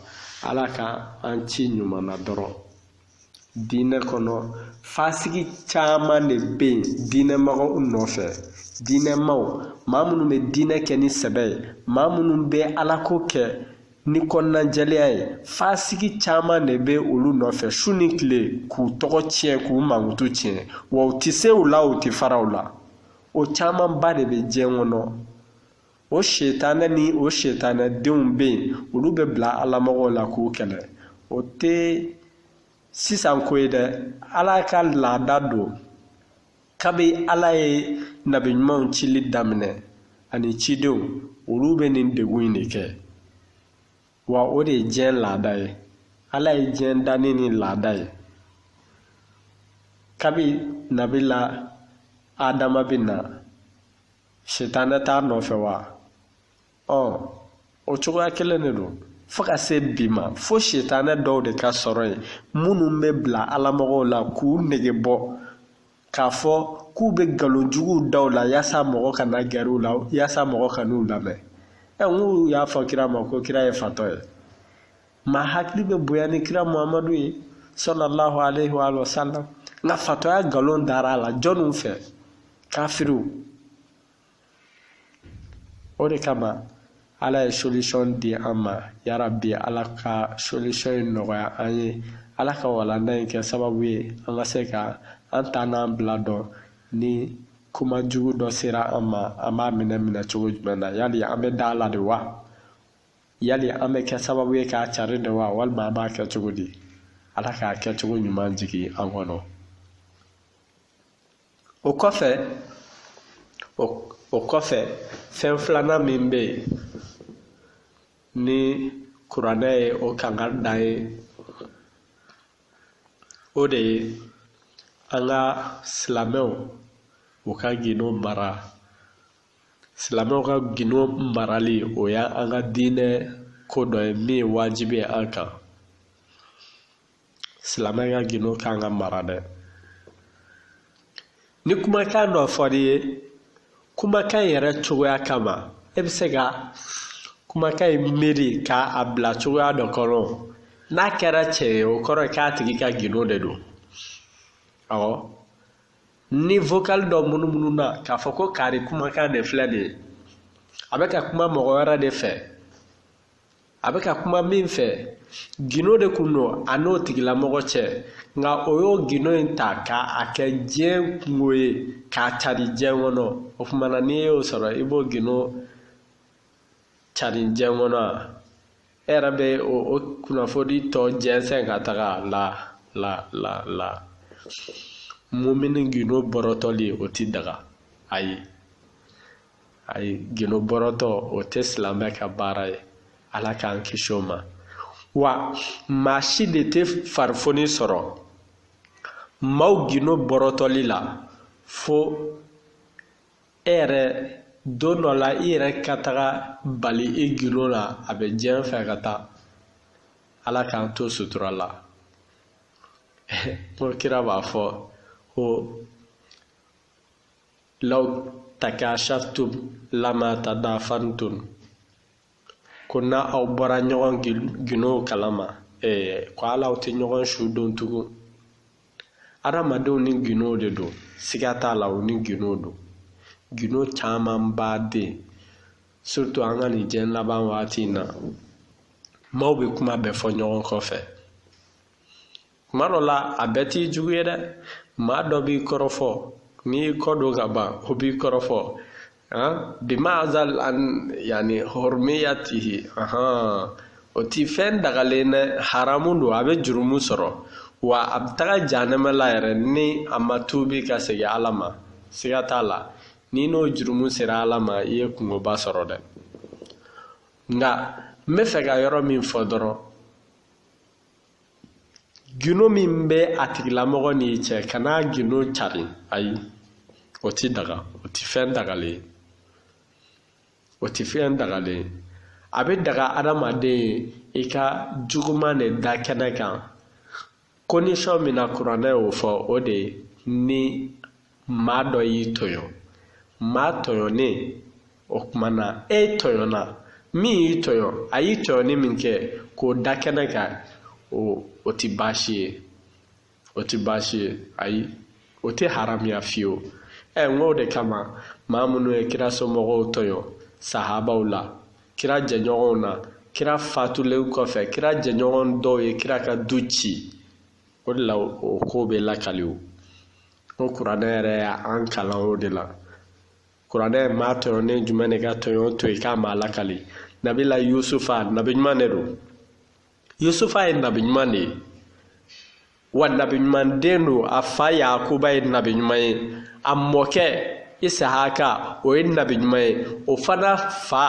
ala ka an ci ɲuman na dɔrɔn diinɛ kɔnɔ fasigi caman de bɛ yen diinɛmɔgɔw nɔfɛ diinɛmaw maa minnu bɛ diinɛ kɛ ni sɛbɛ ye maa minnu bɛ alako kɛ ni kɔnɔnajɛlenya ye fasigi caman de bɛ olu nɔfɛ su ni tile k'u tɔgɔ tiɲɛ k'u mankutu tiɲɛ wa u tɛ se u la u tɛ fara u la o camanba de bɛ diɲɛ kɔnɔ o setanɛ ni o setanɛ denw bɛ yen olu bɛ bila alamɔgɔw la k'u kɛlɛ o tɛ sisan ko ye dɛ ala ka laada don kabi ala ye nabiɲumanw cili daminɛ ani cidenw olu bɛ nin degun in de kɛ wa o de ye diɲɛ laada ye ala ye diɲɛ dan ni nin laada ye kabi nabila adama bɛ na sitanɛ t'a nɔfɛ wa ɔ o cogoya kelen de don fo ka se bi ma fo sitanɛ dɔw de ka sɔrɔ yen minnu bɛ bila alamɔgɔw la k'u nege bɔ k'a fɔ k'u bɛ nkalon juguw da u la yaasa mɔgɔ kana gɛrɛ u la yaasa mɔgɔ kan'u lamɛn ɛ n k'u y'a fɔ kira ma ko kira ye fatɔ ye maa hakili bɛ bonya ni kira muhamadu ye sɔlallahu alaihi wa sallam nka fatɔya nkalon dara a la jɔnniw fɛ kafiriw o de kama ala ye solution di an ma yarabi ala ka solution in nɔgɔya an ye ala ka walanda in kɛ sababu ye an ka se ka an ta n'an bila dɔn ni kuma jugu dɔ sera an ma an b'a minɛ minɛcogo jumɛn na yali an bɛ da a la de wa yali an bɛ kɛ sababu ye k'a cari de wa walima an b'a kɛ cogo di ala k'a kɛcogo ɲuman jigin an kɔnɔ o kɔfɛ fɛn filanan min bɛ yen ni kuranɛ ye o kankari da an ye o de ye an ka silamɛw u ka gindo mara silamɛw ka gindo marali o y'an ka diinɛ ko dɔ ye min ye wajibi ye an kan silamɛ ka gindo kan ka mara dɛ ni kumakan dɔ fɔr'i ye kumakan in yɛrɛ cogoya kama e bɛ se ka kumakan in miiri ka a bila cogoya dɔ kɔnɔ n'a kɛra tiɲɛ ye o kɔrɔ ye k'a tigi ka gindo de don awɔ ni vocal dɔ munumununa k'a fɔ ko kari kumakan de filɛ nin ye a bɛ ka kuma mɔgɔ wɛrɛ de fɛ a bɛ ka kuma min fɛ gindo de kun don a n'o tigilamɔgɔ cɛ nka o y'o gindo in ta ka a kɛ diɲɛ kungo ye k'a cari diɲɛ kɔnɔ o tuma na n'i y'o sɔrɔ i b'o gindo cari diɲɛ kɔnɔ wa e yɛrɛ bɛ o kunnafoni tɔ jɛnsɛn ka taga la mumini gindo bɔrɔtɔli o ti daga ayi ayi gindo bɔrɔtɔ o tɛ silamɛ ka baara ye ala k'an kisi o ma wa maa si de tɛ farifoni sɔrɔ maaw gindo bɔrɔtɔli la fo e yɛrɛ don dɔ la i yɛrɛ ka taga bali i gindo la a bɛ diɲɛ fɛ ka taa ala k'an to sutura la ko kira b'a fɔ ko law takashaftum lama tadafantum ko n'aw bɔra ɲɔgɔn gindow kalama ko ala aw tɛ ɲɔgɔn su don tugun adamadenw ni gindo de don siga t'a la u ni gindo don gindo camanba dɛ surtout an ka nin diɲɛ laban waati in na maaw bɛ kuma bɛɛ fɔ ɲɔgɔn kɔfɛ kuma dɔ la a bɛɛ t'i jugu ye dɛ maa dɔ b'i kɔrɔfɔ n'i y'i kɔ don ka ban o b'i kɔrɔfɔ bima azal an yani hurmiyatihi o ti fɛn dagalen dɛ haramu don a bɛ jurumu sɔrɔ wa a bɛ taga janɛmɛ la yɛrɛ ni a ma tuubi ka segin ala ma siga t'a la n'i n'o jurumu sera ala ma i ye kungoba sɔrɔ dɛ nka n bɛ fɛ ka yɔrɔ min fɔ dɔrɔn gindo min bɛ a tigilamɔgɔ n'i cɛ kana gindo cari ayi o ti daga o ti fɛn dagalen ye o ti fɛn dagalen ye a bɛ daga adamaden ye i ka juguman de da kɛnɛ kan condition min na kuranɛ y'o fɔ o de ye ni maa dɔ y'i tɔɲɔ maa tɔɲɔnen o tuma na e tɔɲɔna min y'i tɔɲɔ a y'i tɔɲɔni min kɛ k'o da kɛnɛ kan o o tɛ baasi ye o tɛ baasi ye ayi o tɛ haramuya fiyewu ɛ n k'o de kama maa minnu ye kira somɔgɔw tɔɲɔ sahabaw la kira jɛɲɔgɔnw na kira fatulen kɔfɛ kira jɛɲɔgɔn dɔw ye kira ka du ci o de la o ko bɛ lakali o ko kuranɛ yɛrɛ y'an kalan o de la kuranɛ ye maa tɔɲɔnen jumɛn de ka tɔɲɔ to yen k'a ma lakali nabila yusufa nabi ɲuman de don yusufa ye nabi ɲuman de ye wa nabi ɲuman den don a fa yakuba ye nabi ɲuman ye a mɔkɛ isahaka o ye nabi ɲuman ye o fana fa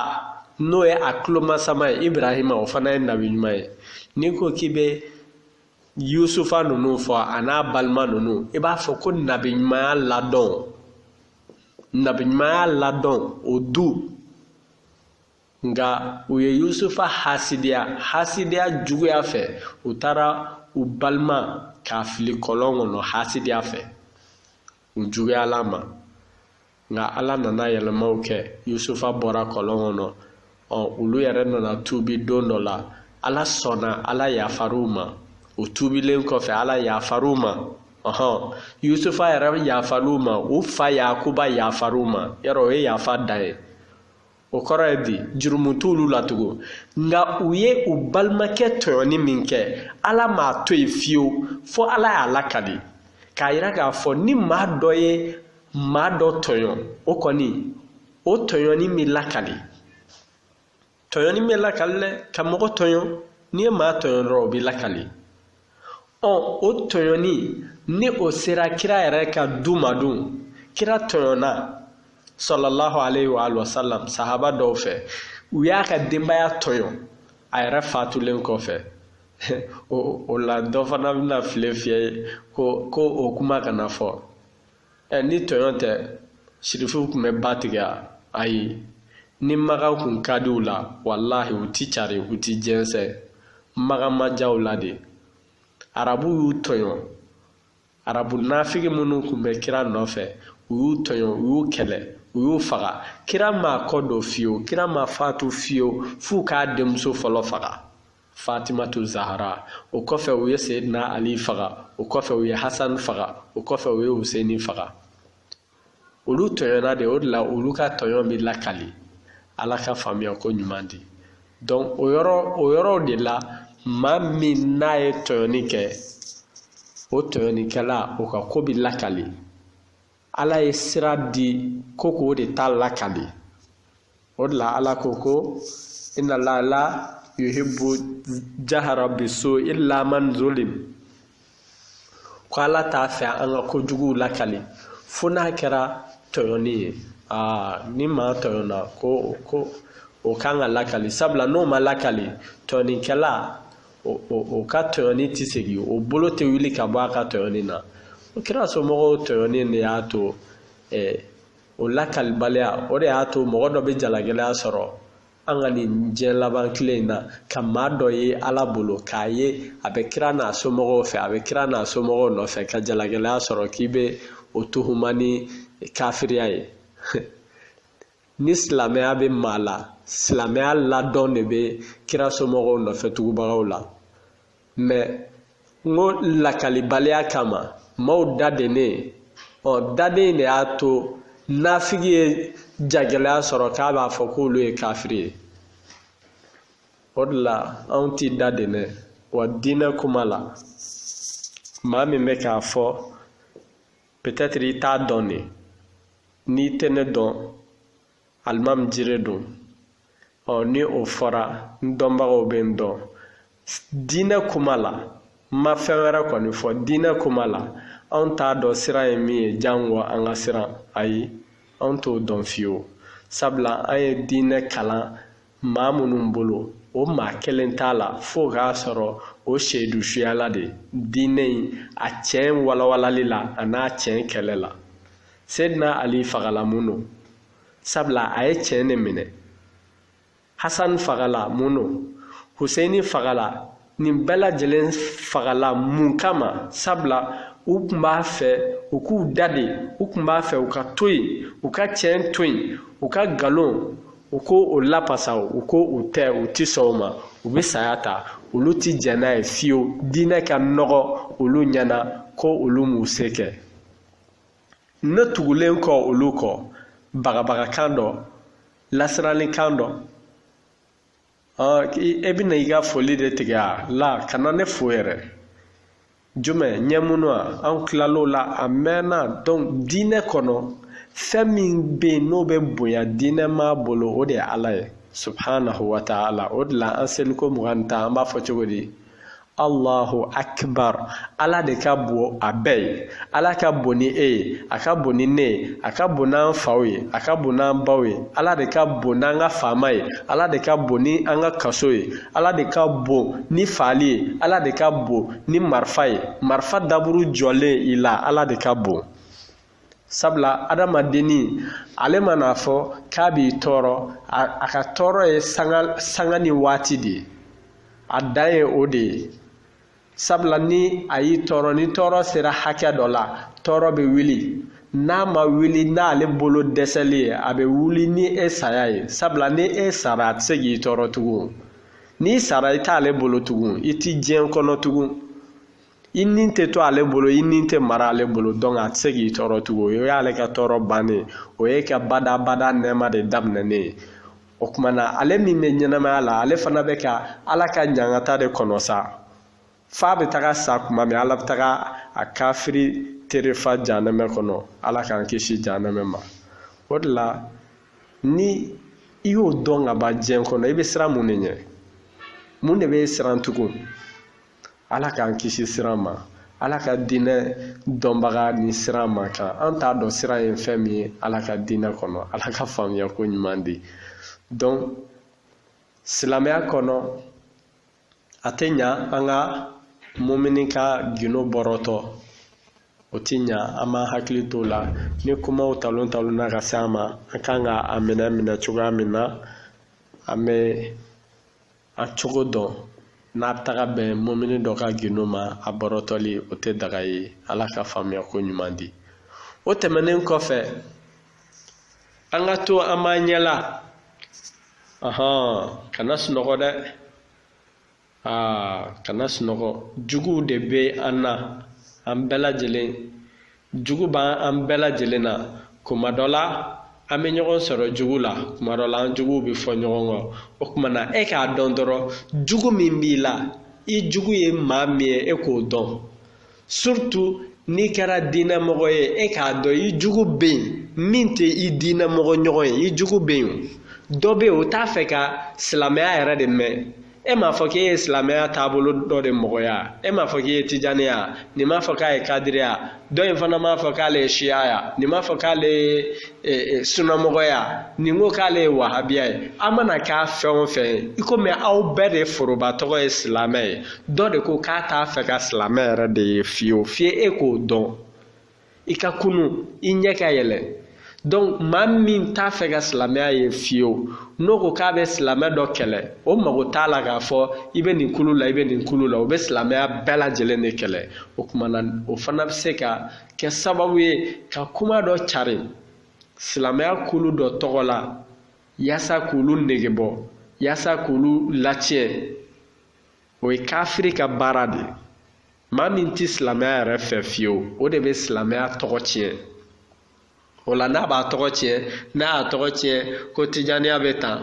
n'o ye a tulomasama ye ibrahima o fana ye nabi ɲuman ye n'i ko k'i bɛ yusufa ninnu fɔ a n'a balima ninnu i b'a fɔ ko nabiɲumanya ladɔn nabiɲumanya ladɔn o du nka u ye yusufa hasidiya hasidiya juguya fɛ u taara u balima k'a fili kɔlɔn kɔnɔ hasidiya fɛ u juguyal'a ma nka ala nana yɛlɛmaw kɛ yusufa bɔra kɔlɔn kɔnɔ ɔ olu yɛrɛ nana tuubi don dɔ la ala sɔnna ala yafar'u ma u tuubilen kɔfɛ ala yafar'u ma ɔhɔn yusufa yɛrɛ yafar'u ma u fa yakuba yafar'u ma yɛrɛ o ye yafa dan ye o kɔrɔ ye di jurumu t'olu la tugun nka u ye u balimakɛ tɔɲɔni min kɛ ala m'a to yen fiyewu fo ala y'a lakali k'a yira k'a fɔ ni maa dɔ ye maa dɔ tɔɲɔ o kɔni o tɔɲɔni bɛ lakali tɔɲɔni bɛ lakali dɛ ka mɔgɔ tɔɲɔ n'i ye maa tɔɲɔ dɔrɔn o bɛ lakali ɔ o tɔɲɔni ni o sera kira yɛrɛ ka du ma dun kira tɔɲɔna salalahu aleyhi wa alihi wa salam sahaba dɔw fɛ u y'a ka denbaya tɔɲɔ a yɛrɛ fatulen kɔfɛ o la dɔ fana bɛna file fiyɛ yen ko o kuma kana fɔ ɛ ni tɔɲɔ tɛ sirifuw tun bɛ ba tigɛ wa ayi ni makan kun ka di u la walahi u ti cari u ti jɛnsɛn makan ma diya u la de arabu y'u tɔɲɔ arabu nafigi minnu tun bɛ kira nɔfɛ u y'u tɔɲɔ u y'u kɛlɛ u y'u faga kira ma kɔ don fiyewu kira ma fatu fiyewu f'u k'a denmuso fɔlɔ faga fatimatu zahara o kɔfɛ u ye seyidina ali faga o kɔfɛ u ye hasan faga o kɔfɛ u ye huseini faga olu tɔɲɔna de o de la olu ka tɔɲɔ bɛ lakali ala ka faamuya ko ɲuman di donc o yɔrɔ o yɔrɔw de la maa min n'a ye tɔɲɔni kɛ o tɔɲɔnikɛla o ka ko bɛ lakali ala ye sira di ko k'o de ta lakali o de la ala ko ko inna allaha la yuhibbu jahara bisu illa man zulim ko ala t'a fɛ an ka kojuguw lakali fo n'a kɛra tɔɲɔni ye aa ni maa tɔɲɔna ko o ka kan ka lakali sabula n'o ma lakali tɔɲɔnikɛla o ka tɔɲɔni tɛ segin o bolo tɛ wuli ka bɔ a ka tɔɲɔni na o kira somɔgɔw tɔɲɔni de y'a to ɛɛ o lakalibaliya o de y'a to mɔgɔ dɔ bɛ jalagɛlɛya sɔrɔ an ka nin diɲɛ laban tile in na ka maa dɔ ye ala bolo k'a ye a bɛ kira n'a somɔgɔw fɛ a bɛ kira n'a somɔgɔw nɔfɛ ka jalagɛlɛya sɔrɔ k'i bɛ o tuhuma ni kafiriya ye ni silamɛya bɛ maa la silamɛya ladɔn de bɛ kira somɔgɔw nɔfɛ tugubagaw la mais n ko lakalibaliya kama maaw dadennen ɔ daden de y'a to nafigi ye jagɛlɛya sɔrɔ k'a b'a fɔ k'olu ye kafiri ye o de la anw ti dadennen wa diinɛ kuma la maa min bɛ k'a fɔ peut-être i t'a dɔn de n'i tɛ ne dɔn alimami jire don ɔ ni o fɔra n dɔnbagaw bɛ n dɔn diinɛ kuma la n ma fɛn wɛrɛ kɔni fɔ diinɛ kuma la anw t'a dɔn siran ye min ye jango an ka siran ayi anw t'o dɔn fiyewu sabula an ye diinɛ kalan maa minnu bolo o maa kelen t'a la fo k'a sɔrɔ o seyidu suyala de diinɛ in a tiɲɛ walawalali la an'a tiɲɛ kɛlɛ la seyidina ali fagala mun don sabula a ye tiɲɛ de minɛ hasan fagala mun don huseini fagala nin bɛɛ lajɛlen fagala mun kama sabula u tun b'a fɛ u k'u daden u tun b'a fɛ u ka to yen u ka tiɲɛ to yen u ka nkalonko lapasa u ko u tɛ u ti sɔn o ma u bɛ saya ta olu ti jɛn n'a ye fiyewu diinɛ ka nɔgɔ olu ɲɛna ko olu m'u se kɛ ne tugulen kɔ olu kɔ bagabagakan dɔ lasirannikan dɔ e bɛna i ka foli de tigɛ a la ka na ne fo yɛrɛ jumɛn ɲɛ minnu a an tilal'o la a mɛnna donc diinɛ kɔnɔ fɛn min bɛ yen n'o bɛ bonya diinɛ maa bolo o de ye ala ye subhanahu wa ta'ala o de la an seliko mugan ni tan an b'a fɔ cogo di Allahu akbar ala de ka bon a bɛɛ ye ala ka bon ni e ye a ka bon ni ne ye a ka bon n'an faw ye a ka bon n'an baw ye ala de ka bon n'an ka faama ye ala de ka bon ni an ka kaso ye ala de ka bon ni faali ye ala de ka bon ni marifa ye marifa daburu jɔlen i la ala de ka bon sabula adamadenni ale man'a fɔ k'a b'i tɔɔrɔ a ka tɔɔrɔ ye sanga ni waati de ye a dan ye o de ye sabula ni a y'i tɔɔrɔ ni tɔɔrɔ sera hakɛ dɔ la tɔɔrɔ bɛ wuli n'a ma wuli n'ale bolo dɛsɛli ye a bɛ wuli ni e saya ye sabula ni e sara a tɛ se k'i tɔɔrɔ tugun n'i sara i t'ale bolo tugun i ti diɲɛ kɔnɔ tugun i ni tɛ to ale bolo i ni tɛ mara ale bolo donc a tɛ se k'i tɔɔrɔ tugun o y'ale ka tɔɔrɔ bannen o y'e ka badabada nɛɛma de daminɛnen ye o kuma na ale min bɛ ɲɛnamaya la ale fana bɛ ka ala ka ɲangata de kɔnɔ sa f'a bɛ taga sa kuma min ala bɛ taga a kafiri terefa janɛmɛ kɔnɔ ala k'an kisi janɛmɛ ma o de la ni i y'o dɔn ka ban diɲɛ kɔnɔ i bɛ siran mun de ɲɛ mun de b'e siran tugun ala k'an kisi siran ma ala ka diinɛ dɔnbaga ni siran man kan an t'a dɔn siran ye fɛn min ye ala ka diinɛ kɔnɔ ala ka faamuya ko ɲuman di donc silamɛya kɔnɔ a tɛ ɲa an ka mumini ka gindo bɔrɔtɔ o ti ɲa an b'an hakili t'o la ni kumaw talon talonna ka se an ma an kan ka a minɛ minɛ cogoya min na an bɛ a cogo dɔn n'a taga bɛn mumini dɔ ka gindo ma a bɔrɔtɔli o tɛ daga ye ala ka faamuya ko ɲuman di o tɛmɛnen kɔfɛ an ka to an b'an ɲɛ la ɔhɔn kana sunɔgɔ dɛ aa kana sunɔgɔ juguw de bɛ an na an bɛɛ lajɛlen jugu b'an an bɛɛ lajɛlen na kuma dɔ la an bɛ ɲɔgɔn sɔrɔ jugu la kuma dɔ la an juguw bɛ fɔ ɲɔgɔn kɔ o kuma na e k'a dɔn dɔrɔn jugu min b'i la i jugu ye maa min ye e k'o dɔn surtout n'i kɛra diinɛmɔgɔ ye e k'a dɔn i jugu bɛ yen min tɛ i diinɛmɔgɔ ɲɔgɔn ye i jugu bɛ yen dɔ bɛ yen o t'a fɛ ka silamɛya yɛrɛ de mɛn e m'a fɔ k'e ye silamɛya taabolo dɔ de mɔgɔya e m'a fɔ k'i ye tijaniya nin m'a fɔ k'a ye kadiriya dɔ in fana m'a fɔ k'ale ye shiyaya nin m'a fɔ k'ale ye sunamɔgɔya nin ko k'ale ye wahabiya ye a mana k'a fɛn o fɛn ye i komi aw bɛɛ de foroba tɔgɔ ye silamɛ ye dɔ de ko k'a t'a fɛ ka silamɛ yɛrɛ de ye fiyewu f'i e k'o dɔn i ka kunun i ɲɛ ka yɛlɛ donc maa min t'a fɛ ka silamɛya ye fiyewu n'o ko k'a bɛ silamɛ dɔ kɛlɛ o mago t'a la k'a fɔ i bɛ nin kulu la i bɛ nin kulu la o bɛ silamɛya bɛɛ lajɛlen de kɛlɛ o tuma na o fana bɛ se ka kɛ sababu ye ka kuma dɔ cari silamɛya kulu dɔ tɔgɔ la yaasa k'olu nege bɔ yaasa k'olu latiɲɛ o ye kafiri ka baara de ye Maa min tɛ silamɛya yɛrɛ fɛ fiyewu o de bɛ silamɛya tɔgɔ tiɲɛ o la n'a b'a tɔgɔ tiɲɛ n'a y'a tɔgɔ tiɲɛ ko tijaniya bɛ tan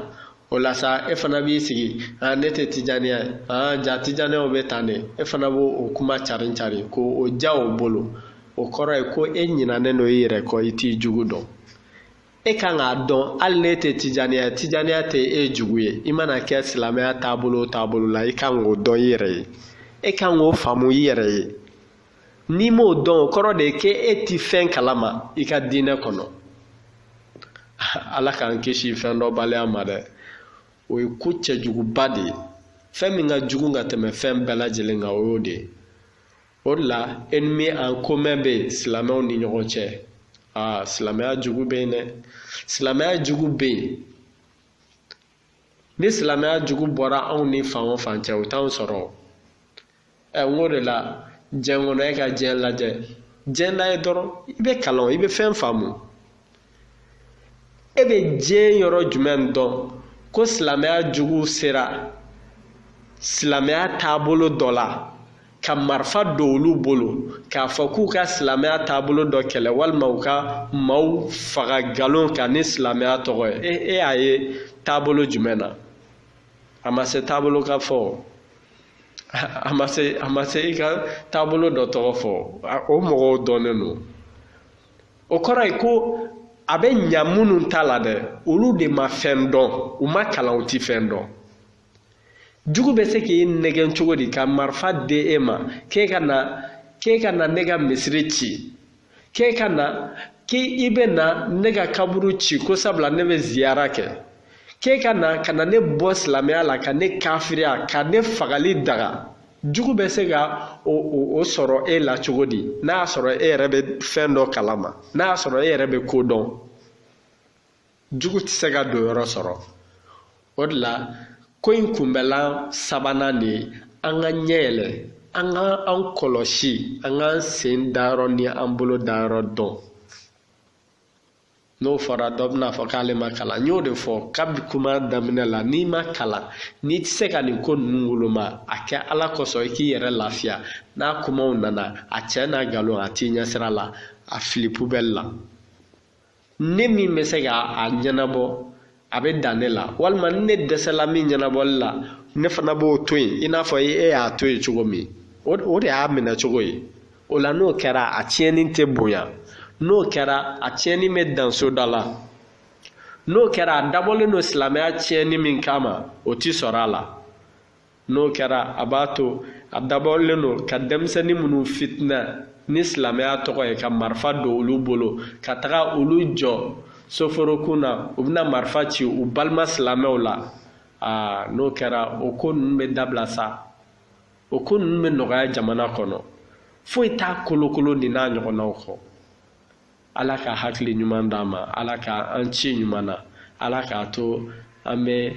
o la sa e fana b'i sigi aa ne tɛ tijaniya ye aa jaa tijaniyaw bɛ tan de e fana b'o o kuma carin carin ko o ja o bolo o kɔrɔ ye ko e ɲinanen don i yɛrɛ kɔ i t'i jugu dɔn e kan k'a dɔn hali n'e tɛ tijaniya ye tijaniya tɛ e jugu ye i mana kɛ silamɛya taabolo o taabolo la i kan k'o dɔn i yɛrɛ ye e kan k'o faamu i yɛrɛ ye n'i m'o dɔn o kɔrɔ de ye ko e ti fɛn kalama i ka diinɛ kɔnɔ ala k'an kisi fɛn dɔnbaliya ma dɛ o ye ko cɛjuguba de ye fɛn min ka jugu ka tɛmɛ fɛn bɛɛ lajɛlen kan o y'o de ye o de la ennemi en commun bɛ silamɛw ni ɲɔgɔn cɛ aa ah, silamɛya jugu bɛ yen dɛ silamɛya jugu bɛ yen ni silamɛya jugu bɔra anw ni fan o fan cɛ o t'anw sɔrɔ ɛ n k'o de la diɲɛ kɔnɔ e ka diɲɛ lajɛ diɲɛ lajɛ dɔrɔn i bɛ kalan i bɛ fɛn faamu e bɛ diɲɛ yɔrɔ jumɛn dɔn ko silamɛya jugu sera silamɛya taabolo dɔ la ka marifa don olu bolo k'a fɔ k'u ka silamɛya taabolo dɔ kɛlɛ walima u ka maaw faga nkalon kan ni silamɛya tɔgɔ ye e e y'a ye taabolo jumɛn na a ma se taabolo ka fɔ a ma se i ka taabolo dɔ tɔgɔ fɔ o mɔgɔw dɔnnen don o kɔrɔ ye ko a bɛ ɲa minnu ta la dɛ olu de ma fɛn dɔn u ma kalan u ti fɛn dɔn jugu bɛ se k'i nɛgɛn cogo di ka marifa di e ma k'e ka na k'e ka na ne ka misiri ci k'e ka na k'i bɛ na ne ka kaburu ci ko sabula ne bɛ ziyara kɛ k'e ka na ka na ne bɔ silamɛya la ka ne kafiriya ka ne fagali daga jugu bɛ se ka o sɔrɔ e la cogo di n'a y'a sɔrɔ e yɛrɛ bɛ fɛn dɔ kalama n'a y'a sɔrɔ e yɛrɛ bɛ ko dɔn jugu tɛ se ka don yɔrɔ sɔrɔ o de la ko in kunbɛlan sabanan de ye an ka ɲɛ yɛlɛ an ka an kɔlɔsi an k'an sen da yɔrɔ ni an bolo da yɔrɔ dɔn n'o fɔra dɔ bɛna a fɔ k'ale ma kalan n y'o de fɔ kabi kuma daminɛ la n'i ma kalan n'i tɛ se ka nin ko ninnu woloma a kɛ ala kosɔn i k'i yɛrɛ lafiya n'a kumaw nana a tiɲɛ n'a nkalon a t'i ɲɛsira la a fili pubɛli la ne min bɛ se ka a ɲɛnabɔ a bɛ dan ne la walima ni ne dɛsɛla min ɲɛnabɔli la ne fana b'o to yen i n'a fɔ e y'a to yen cogo min o de y'a minɛ cogo ye o la n'o kɛra a tiɲɛni tɛ bonya n'o kɛra a tiɲɛni bɛ dan so da la n'o kɛra a dabɔlen don silamɛya tiɲɛni min kama o ti sɔrɔ a la n'o kɛra a b'a to a dabɔlen don ka denmisɛnnin minnu fitina ni silamɛya tɔgɔ ye ka marifa don olu bolo ka taga olu jɔ soforokun na u bɛna marifa ci u balima silamɛw la aa n'o kɛra o ko ninnu bɛ dabila sa o ko ninnu bɛ nɔgɔya jamana kɔnɔ foyi t'a kolokolo nin n'a ɲɔgɔnnaw kɔ ala ka hakili ɲuman d'an ma ala ka an ci ɲuman na ala k'a to an bɛ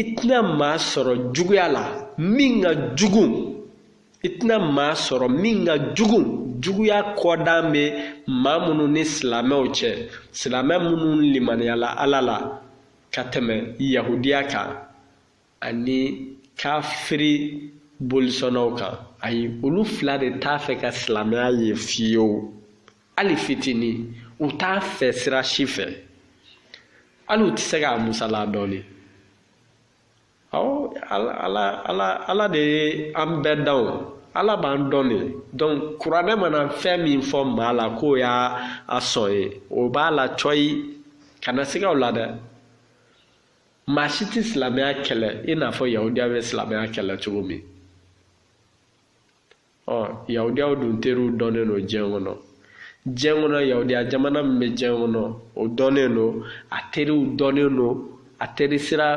i tɛna maa sɔrɔ juguya la min ka jugu i tɛna maa sɔrɔ min ka jugu juguya kɔdan bɛ maa minnu ni silamɛw cɛ silamɛ minnu limaniyala ala la ka tɛmɛ yahudiya kan ani kafiri bolisɔnnaw kan ayi olu fila de t'a fɛ ka silamɛya ye fiyewu hali fitinin u t'a fɛ sira si fɛ hali u tɛ se k'a musala dɔɔni awɔ ala de ye an bɛɛ da o ala b'an dɔn de donc kuranɛ mana fɛn min fɔ maa la k'o y'a sɔn ye o b'a la cɔyi kana siga o la dɛ maa si tɛ silamɛya kɛlɛ i n'a fɔ yahudiya bɛ silamɛya kɛlɛ cogo min ɔ yahudiyaw dun teriw dɔnnen don diɲɛ kɔnɔ diɲɛ kɔnɔ yahudiya jamana min bɛ diɲɛ kɔnɔ o dɔnnen don a teriw dɔnnen don a teri sira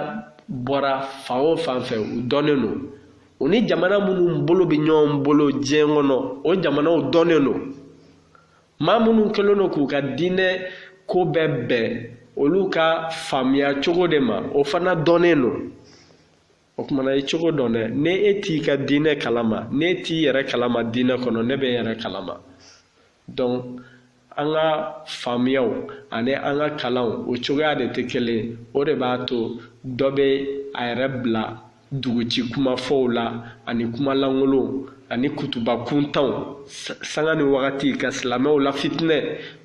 bɔra fan o fan fɛ u dɔnnen don u ni jamana minnu bolo bɛ ɲɔgɔn bolo diɲɛ kɔnɔ o jamanaw dɔnnen don maa minnu kɛlen don k'u ka diinɛ ko bɛɛ bɛn olu ka faamuya cogo de ma o fana dɔnnen don o tuma na i cogo dɔn dɛ ni e t'i ka diinɛ kalama n'e t'i yɛrɛ kalama diinɛ kɔnɔ ne bɛ n yɛrɛ kalama donc an ka faamuyaw ani an ka kalanw o cogoya de tɛ kelen o de b'a to dɔ bɛ a yɛrɛ bila duguci kumafɔw la ani kumalankolonw ani kutuba kuntanw sanga ni wagati ka silamɛw lafitinɛ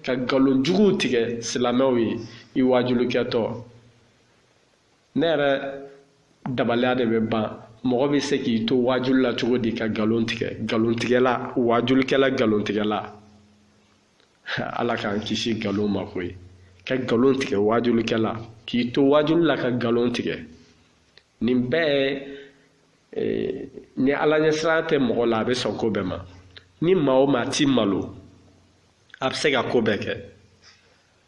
ka nkalon juguw tigɛ silamɛw ye i wajulikɛtɔ ne yɛrɛ dabaliya de bɛ ban mɔgɔ bɛ se k'i to waajuli la cogo di ka nkalon tigɛ nkalon tigɛla waajulikɛla nkalon tigɛla ala k'an kisi nkalon ma koyi ka nkalon tigɛ waajulikɛla k'i to waajuli la ka nkalon tigɛ nin bɛɛ eh, ni ala ɲɛsiran tɛ mɔgɔ la a bɛ sɔn ko bɛɛ ma ni maa o maa ti malo a bɛ se ka ko bɛɛ kɛ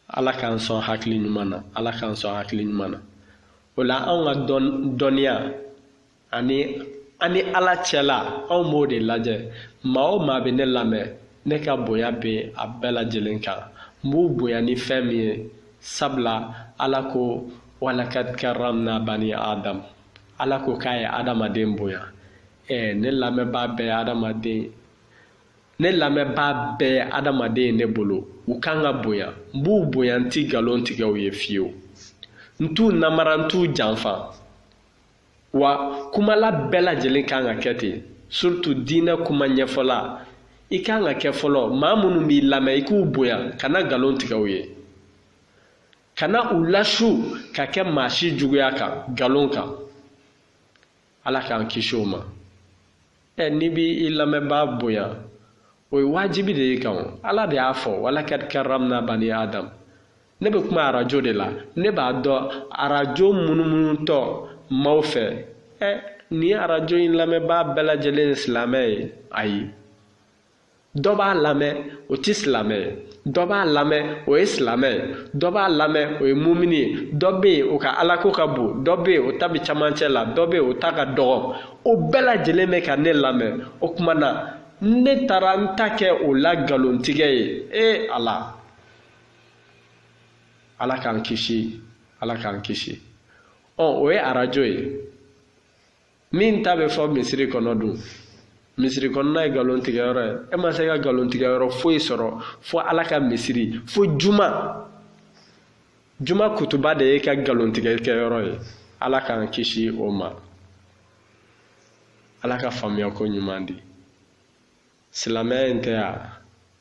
ala k'an sɔn hakili ɲuman na ala k'an sɔn hakili ɲuman na o la anw ka dɔnniya ani an ni ala cɛla anw b'o de lajɛ maa o maa bɛ ne lamɛn ne ka bonya bɛ a bɛɛ lajɛlen kan n b'u bonya ni fɛn min ye sabula ala ko walakad karamna bani adam ala ko k'a ye adamaden bonya ɛɛ ne lamɛnbaa bɛɛ ye adamaden ne lamɛnbaa bɛɛ adamaden ye ne bolo u kan ka bonya n b'u bonya n ti nkalon tigɛ u ye fiyewu n t'u namara n t'u janfa wa kumala bɛɛ lajɛlen kan ka kɛ ten surtout diinɛ kuma ɲɛfɔla i kan ka kɛ fɔlɔ maa minnu b'i lamɛn i k'u bonya kana nkalon tigɛ u ye kana u lasu ka kɛ maa si juguya kan nkalon kan ala k'an kisi o ma ɛ n'i b'i i lamɛnbaa bonya o ye wajibi de ye i kan o ala de y'a fɔ walakad karamna bani adam ne bɛ kuma arajo de la ne b'a dɔn arajo munumunutɔ maaw fɛ ɛ nin arajo in lamɛnbaa bɛɛ lajɛlen ye silamɛ ye ayi dɔ b'a lamɛn o tɛ silamɛ ye dɔ b'a lamɛn o ye silamɛ ye dɔ b'a lamɛn o ye mumini ye dɔ bɛ yen o ka alako ka bon dɔ bɛ yen o ta bɛ camancɛ la dɔ bɛ yen o ta ka dɔgɔ o bɛɛ lajɛlen bɛ ka ne lamɛn o tuma na ne taara n ta kɛ o la nkalontigɛ ye ee ala ala k'an kisi ala k'an kisi ɔ o ye arajo ye min ta bɛ fɔ misiri kɔnɔ dun misiri kɔnɔna ye nkalon tigɛyɔrɔ ye e ma se ka nkalon tigɛyɔrɔ foyi sɔrɔ fo ala ka misiri fo juma juma kutuba de y'e ka nkalon tigɛ kɛyɔrɔ ye ala k'an kisi o ma ala ka faamuya ko ɲuman di silamɛya in tɛ yan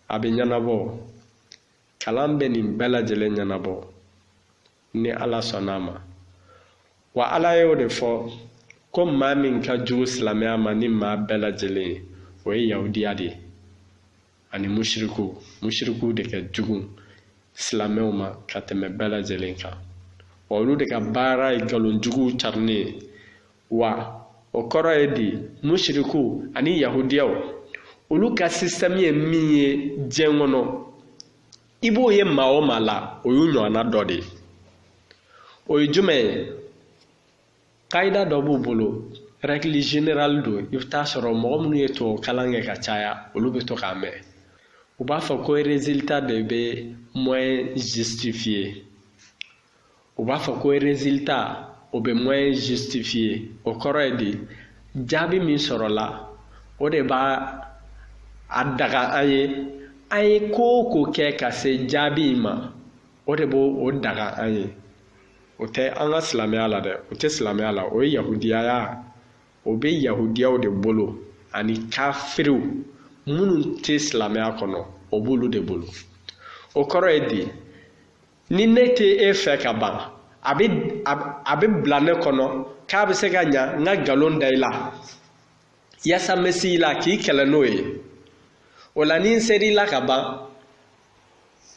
a bɛ ɲɛnabɔ kalan bɛ nin bɛɛ lajɛlen ɲɛnabɔ ni ala sɔnna a ma wa ala y'o de fɔ ko maa min ka jugu silamɛya ma ni maa bɛɛ lajɛlen ye o ye yahudiya de ye ani mushirikuw mushirikuw de ka jugu silamɛw ma ka tɛmɛ bɛɛ lajɛlen kan wa olu de ka baara ye nkalonjuguw carinni ye wa o kɔrɔ ye di mushirikuw ani yahudiyaw olu ka système ye min ye diɲɛ kɔnɔ i b'o ye maa o maa la o y'u ɲɔgɔnna dɔ de ye o ye jumɛn ye kayida dɔ b'u bolo règle générale don i bɛ taa sɔrɔ mɔgɔ minnu ye tubabu kalan kɛ ka caya olu bɛ to k'a mɛn u b'a fɔ ko résultat de bɛ moyen justifier u b'a fɔ ko résultat o bɛ moyen justifier o kɔrɔ ye di jaabi min sɔrɔla o de b'a a daga an ye an ye ko o ko kɛ ka se jaabi in ma o de b'o o daga an ye o tɛ an ka silamɛya la dɛ o tɛ silamɛya la o ye yahudiyaya o bɛ yahudiyaw de bolo ani kafiriw minnu tɛ silamɛya kɔnɔ o b'olu de bolo o kɔrɔ ye di ni ne tɛ e fɛ ka ban a bɛ a bɛ bila ne kɔnɔ k'a bɛ se ka ɲa n ka nkalon da i la yaasa n bɛ se i la k'i kɛlɛ n'o ye o la ni n ser'i la ka ban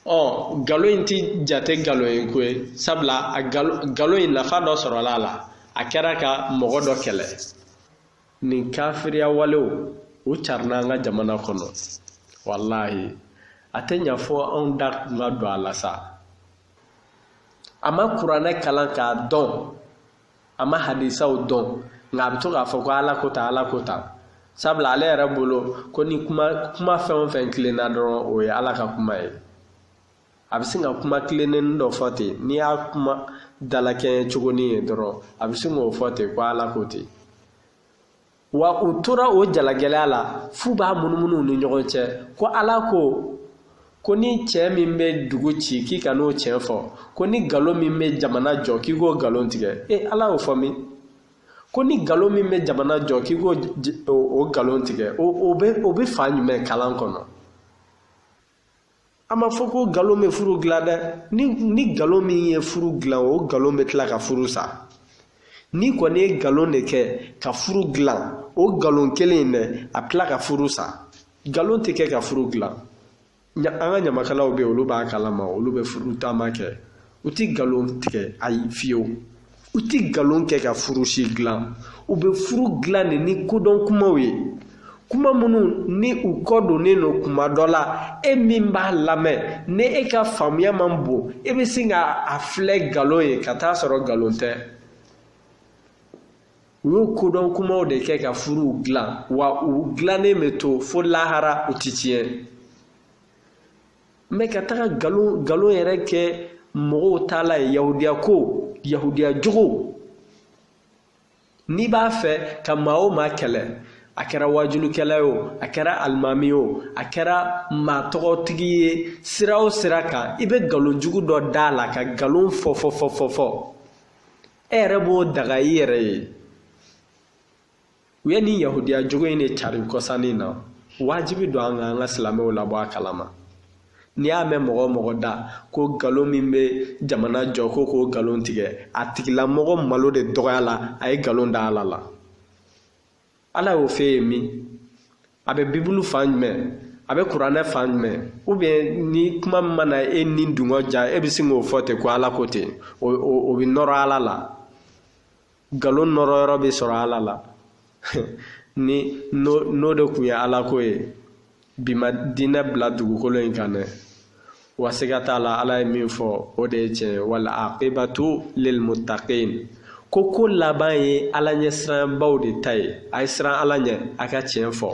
ɔ nkalon in ti jate nkalon ye ko ye sabula a nkalon nkalon in nafa dɔ sɔrɔla a la a kɛra ka mɔgɔ dɔ kɛlɛ nin kafiriya walew u carinna an ka jamana kɔnɔ walahi a tɛ ɲa fɔ anw da kun ka don a la sa a ma kuranɛ kalan k'a dɔn a ma hadisaw dɔn nka a bɛ to k'a fɔ ko ala ko tan ala ko tan sabula ale yɛrɛ bolo ko ni kuma kuma fɛn o fɛn tilenna dɔrɔn o ye ala ka kuma ye a bɛ sin ka kuma tilennennin dɔ fɔ ten n'i y'a kuma dalakɛɲɛ cogonin ye dɔrɔn a bɛ sin k'o fɔ ten ko ala ko ten wa u tora o jalagɛlɛya la f'u b'a munumunu ni ɲɔgɔn cɛ ko ala ko ko ni cɛn min bɛ dugu ci k'i kan'o cɛn fɔ ko ni nkalon min bɛ jamana jɔ k'i k'o nkalon tigɛ e ala y'o fɔ min ko ni nkalon min bɛ jamana jɔ k'i k'o o nkalon tigɛ o bɛ o bɛ fan jumɛn kalan kɔnɔ a ma fɔ ko nkalon bɛ furu dilan dɛ ni ni nkalon min ye furu dilan o nkalon bɛ tila ka furu sa n'i kɔni ye nkalon de kɛ ka furu dilan o nkalon kelen in dɛ a bɛ tila ka furu sa nkalon tɛ kɛ ka furu dilan an ka ɲamakalaw bɛ yen olu b'a kalama olu bɛ furu taama kɛ u ti nkalon tigɛ ayi fiyewu u ti nkalon kɛ ka furu si dilan u bɛ furu dilan de ni kodɔn kumaw ye kuma minnu ni u kɔ donnen don kuma dɔ la e min b'a lamɛn ni e ka faamuya man bon e bɛ se ka a filɛ nkalon ye ka taa sɔrɔ nkalon tɛ u y'o kodɔn kumaw de kɛ ka furuw dilan wa u dilannen bɛ to fo lahara u ti tiɲɛ mais ka taga nkalon nkalon yɛrɛ kɛ mɔgɔw taalan ye yahudiya ko yahudiya jogo n'i b'a fɛ ka maa o maa kɛlɛ a kɛra wajulikɛla ye o a kɛra alimami ye o a kɛra maa tɔgɔtigi ye sira o sira kan i bɛ nkalon jugu dɔ d'a la ka nkalon fɔ fɔ fɔ fɔ fɔ e yɛrɛ b'o daga i yɛrɛ ye u ye nin yahudiya jogo in de cari kɔsannin na wajibi don an ka an ka silamɛw labɔ a kalama n'i y'a mɛn mɔgɔ o mɔgɔ da ko nkalon min bɛ jamana jɔ ko k'o nkalon tigɛ a tigilamɔgɔ malo de dɔgɔya la a ye nkalon da ala la ala y'o f'e ye min a bɛ bibulu fan jumɛn a bɛ kuranɛ fan jumɛn ou bien ni kuma min mana e ni dungɔ ja e bɛ sin k'o fɔ ten ko ala ko ten o bɛ nɔrɔ ala la nkalon nɔrɔ yɔrɔ bɛ sɔrɔ ala la ni n'o de kun ye alako ye bi ma diinɛ bila dugukolo in kan dɛ wa siga t'a la ala ye min fɔ o de ye tiɲɛ ye wal aqibatu lilmuttaqin ko ko laban ye ala ɲɛsiranbaw de ta ye a ye siran ala ɲɛ a ka tiɲɛ fɔ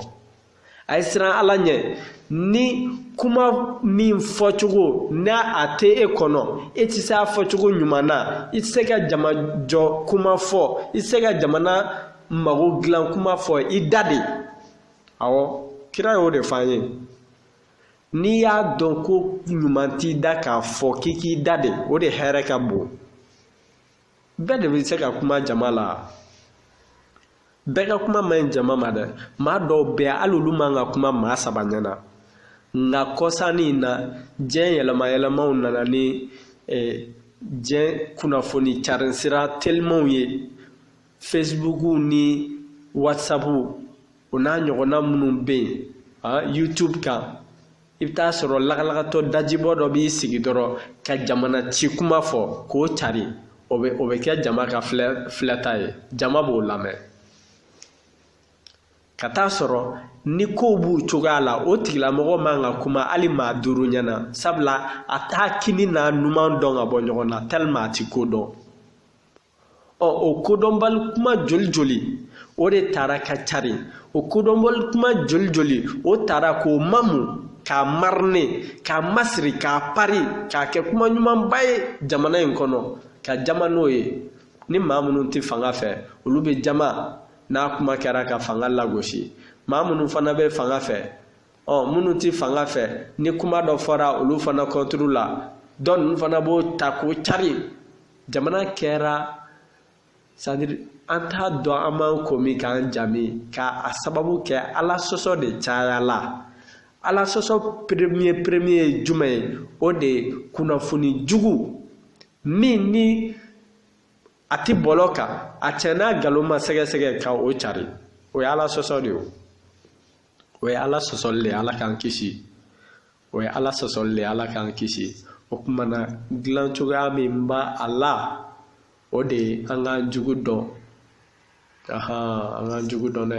a ye siran ala ɲɛ ni kuma min fɔcogo ni a tɛ e kɔnɔ e tɛ se a fɔcogo ɲuman na i tɛ se ka jama jɔ kuma fɔ i tɛ se ka jamana mago dilan kuma fɔ i da de awɔ kira y'o de fɔ an ye n'i y'a dɔn ko ɲuman t'i da k'a fɔ k'i k'i da de o de hɛrɛ ka bon bɛɛ de bɛ se ka kuma jama la bɛɛ ka kuma man ɲi jama ma dɛ maa dɔw bɛ yan hali olu man ka kuma maa saba ɲɛ na nka kɔsannin in na diɲɛ yɛlɛma yɛlɛmaw nana ni eh, diɲɛ kunnafoni carin sira telimanw ye facebook ni whatsapp o n'a ɲɔgɔnna minnu bɛ yen ah, youtube kan i bɛ taa sɔrɔ lagalagatɔ dajibɔ dɔ b'i sigi dɔrɔn ka jamana ci kuma fɔ k'o cari o bɛ o bɛ kɛ jama ka filɛ filɛta ye jama b'o lamɛn ka taa sɔrɔ ni kow b'u cogoya la o tigilamɔgɔ man ka kuma hali maa duuru ɲɛ na sabula a t'a kini n'a numan dɔn ka bɔ ɲɔgɔn na tellement a ti ko dɔn ɔ o kodɔnbali kuma joli joli o de tara ka cari o kodɔnbali kuma joli joli o tara k'o mamu k'a mariner k'a masiri k'a pari k'a kɛ kuma ɲumanba ye jamana in kɔnɔ ka jama n'o ye ni maa minnu tɛ fanga fɛ olu bɛ jama n'a kuma kɛra ka fanga lagosi maa minnu fana bɛ fanga fɛ ɔ minnu tɛ fanga fɛ ni kuma dɔ fɔra olu fana contre la dɔ ninnu fana b'o ta k'o cari jamana kɛra c'est-à-dire an t'a dɔn an b'an ko min k'an jami ka a sababu kɛ ala sɔsɔ de cayala ala sɔsɔ premier premier ye jumɛn ye o de ye kunnafoni jugu min ni a ti bɔlɔ kan a cɛn n'a nkalon ma sɛgɛsɛgɛ ka o cari o ye ala sɔsɔ de ye o ye ala sɔsɔli le ye ala k'an kisi o ye ala sɔsɔli le ye ala k'an kisi o tuma na dilan cogoya min b'a a la o de ye an k'an jugu dɔn an k'an jugu dɔn dɛ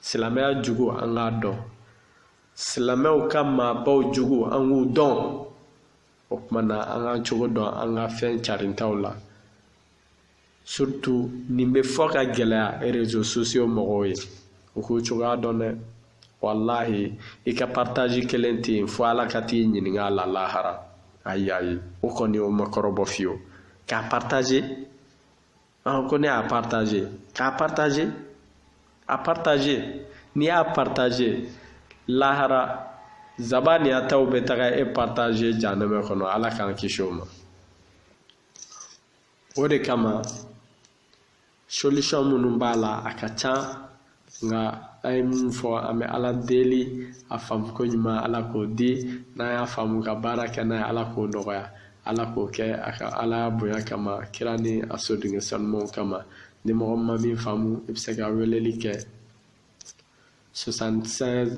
silamɛya jugu an k'a dɔn silamɛw ka maabaw jugu an k'u dɔn o tuma na an k'an cogo dɔn an ka fɛn carintaw la surtout nin bɛ fɔ ka gɛlɛya réseaux sociaux mɔgɔw ye u k'u cogoya dɔn dɛ walahi i ka partage kelen tɛ yen fo ala ka t'i ɲininka a la lahara ayi ayi o kɔni o ma kɔrɔbɔ fiyewu k'a partage ah, ko ne y'a partage k'a partage a partage n'i y'a partage lahara zabaniyataw bɛ taga e partage janɛmɛ kɔnɔ ala k'an kisi o ma o de kama solution minnu b'a la a ka ca nka an ye min fɔ an bɛ ala deli a faamuko ɲuman ala k'o di n'an y'a faamu ka baara kɛ n'a ye ala k'o nɔgɔya ala k'o kɛ a ka alaya bonya kama kira ni a sodenkɛ sanumanw kama ni mɔgɔ ma min faamu i bɛ se ka weleli kɛ 76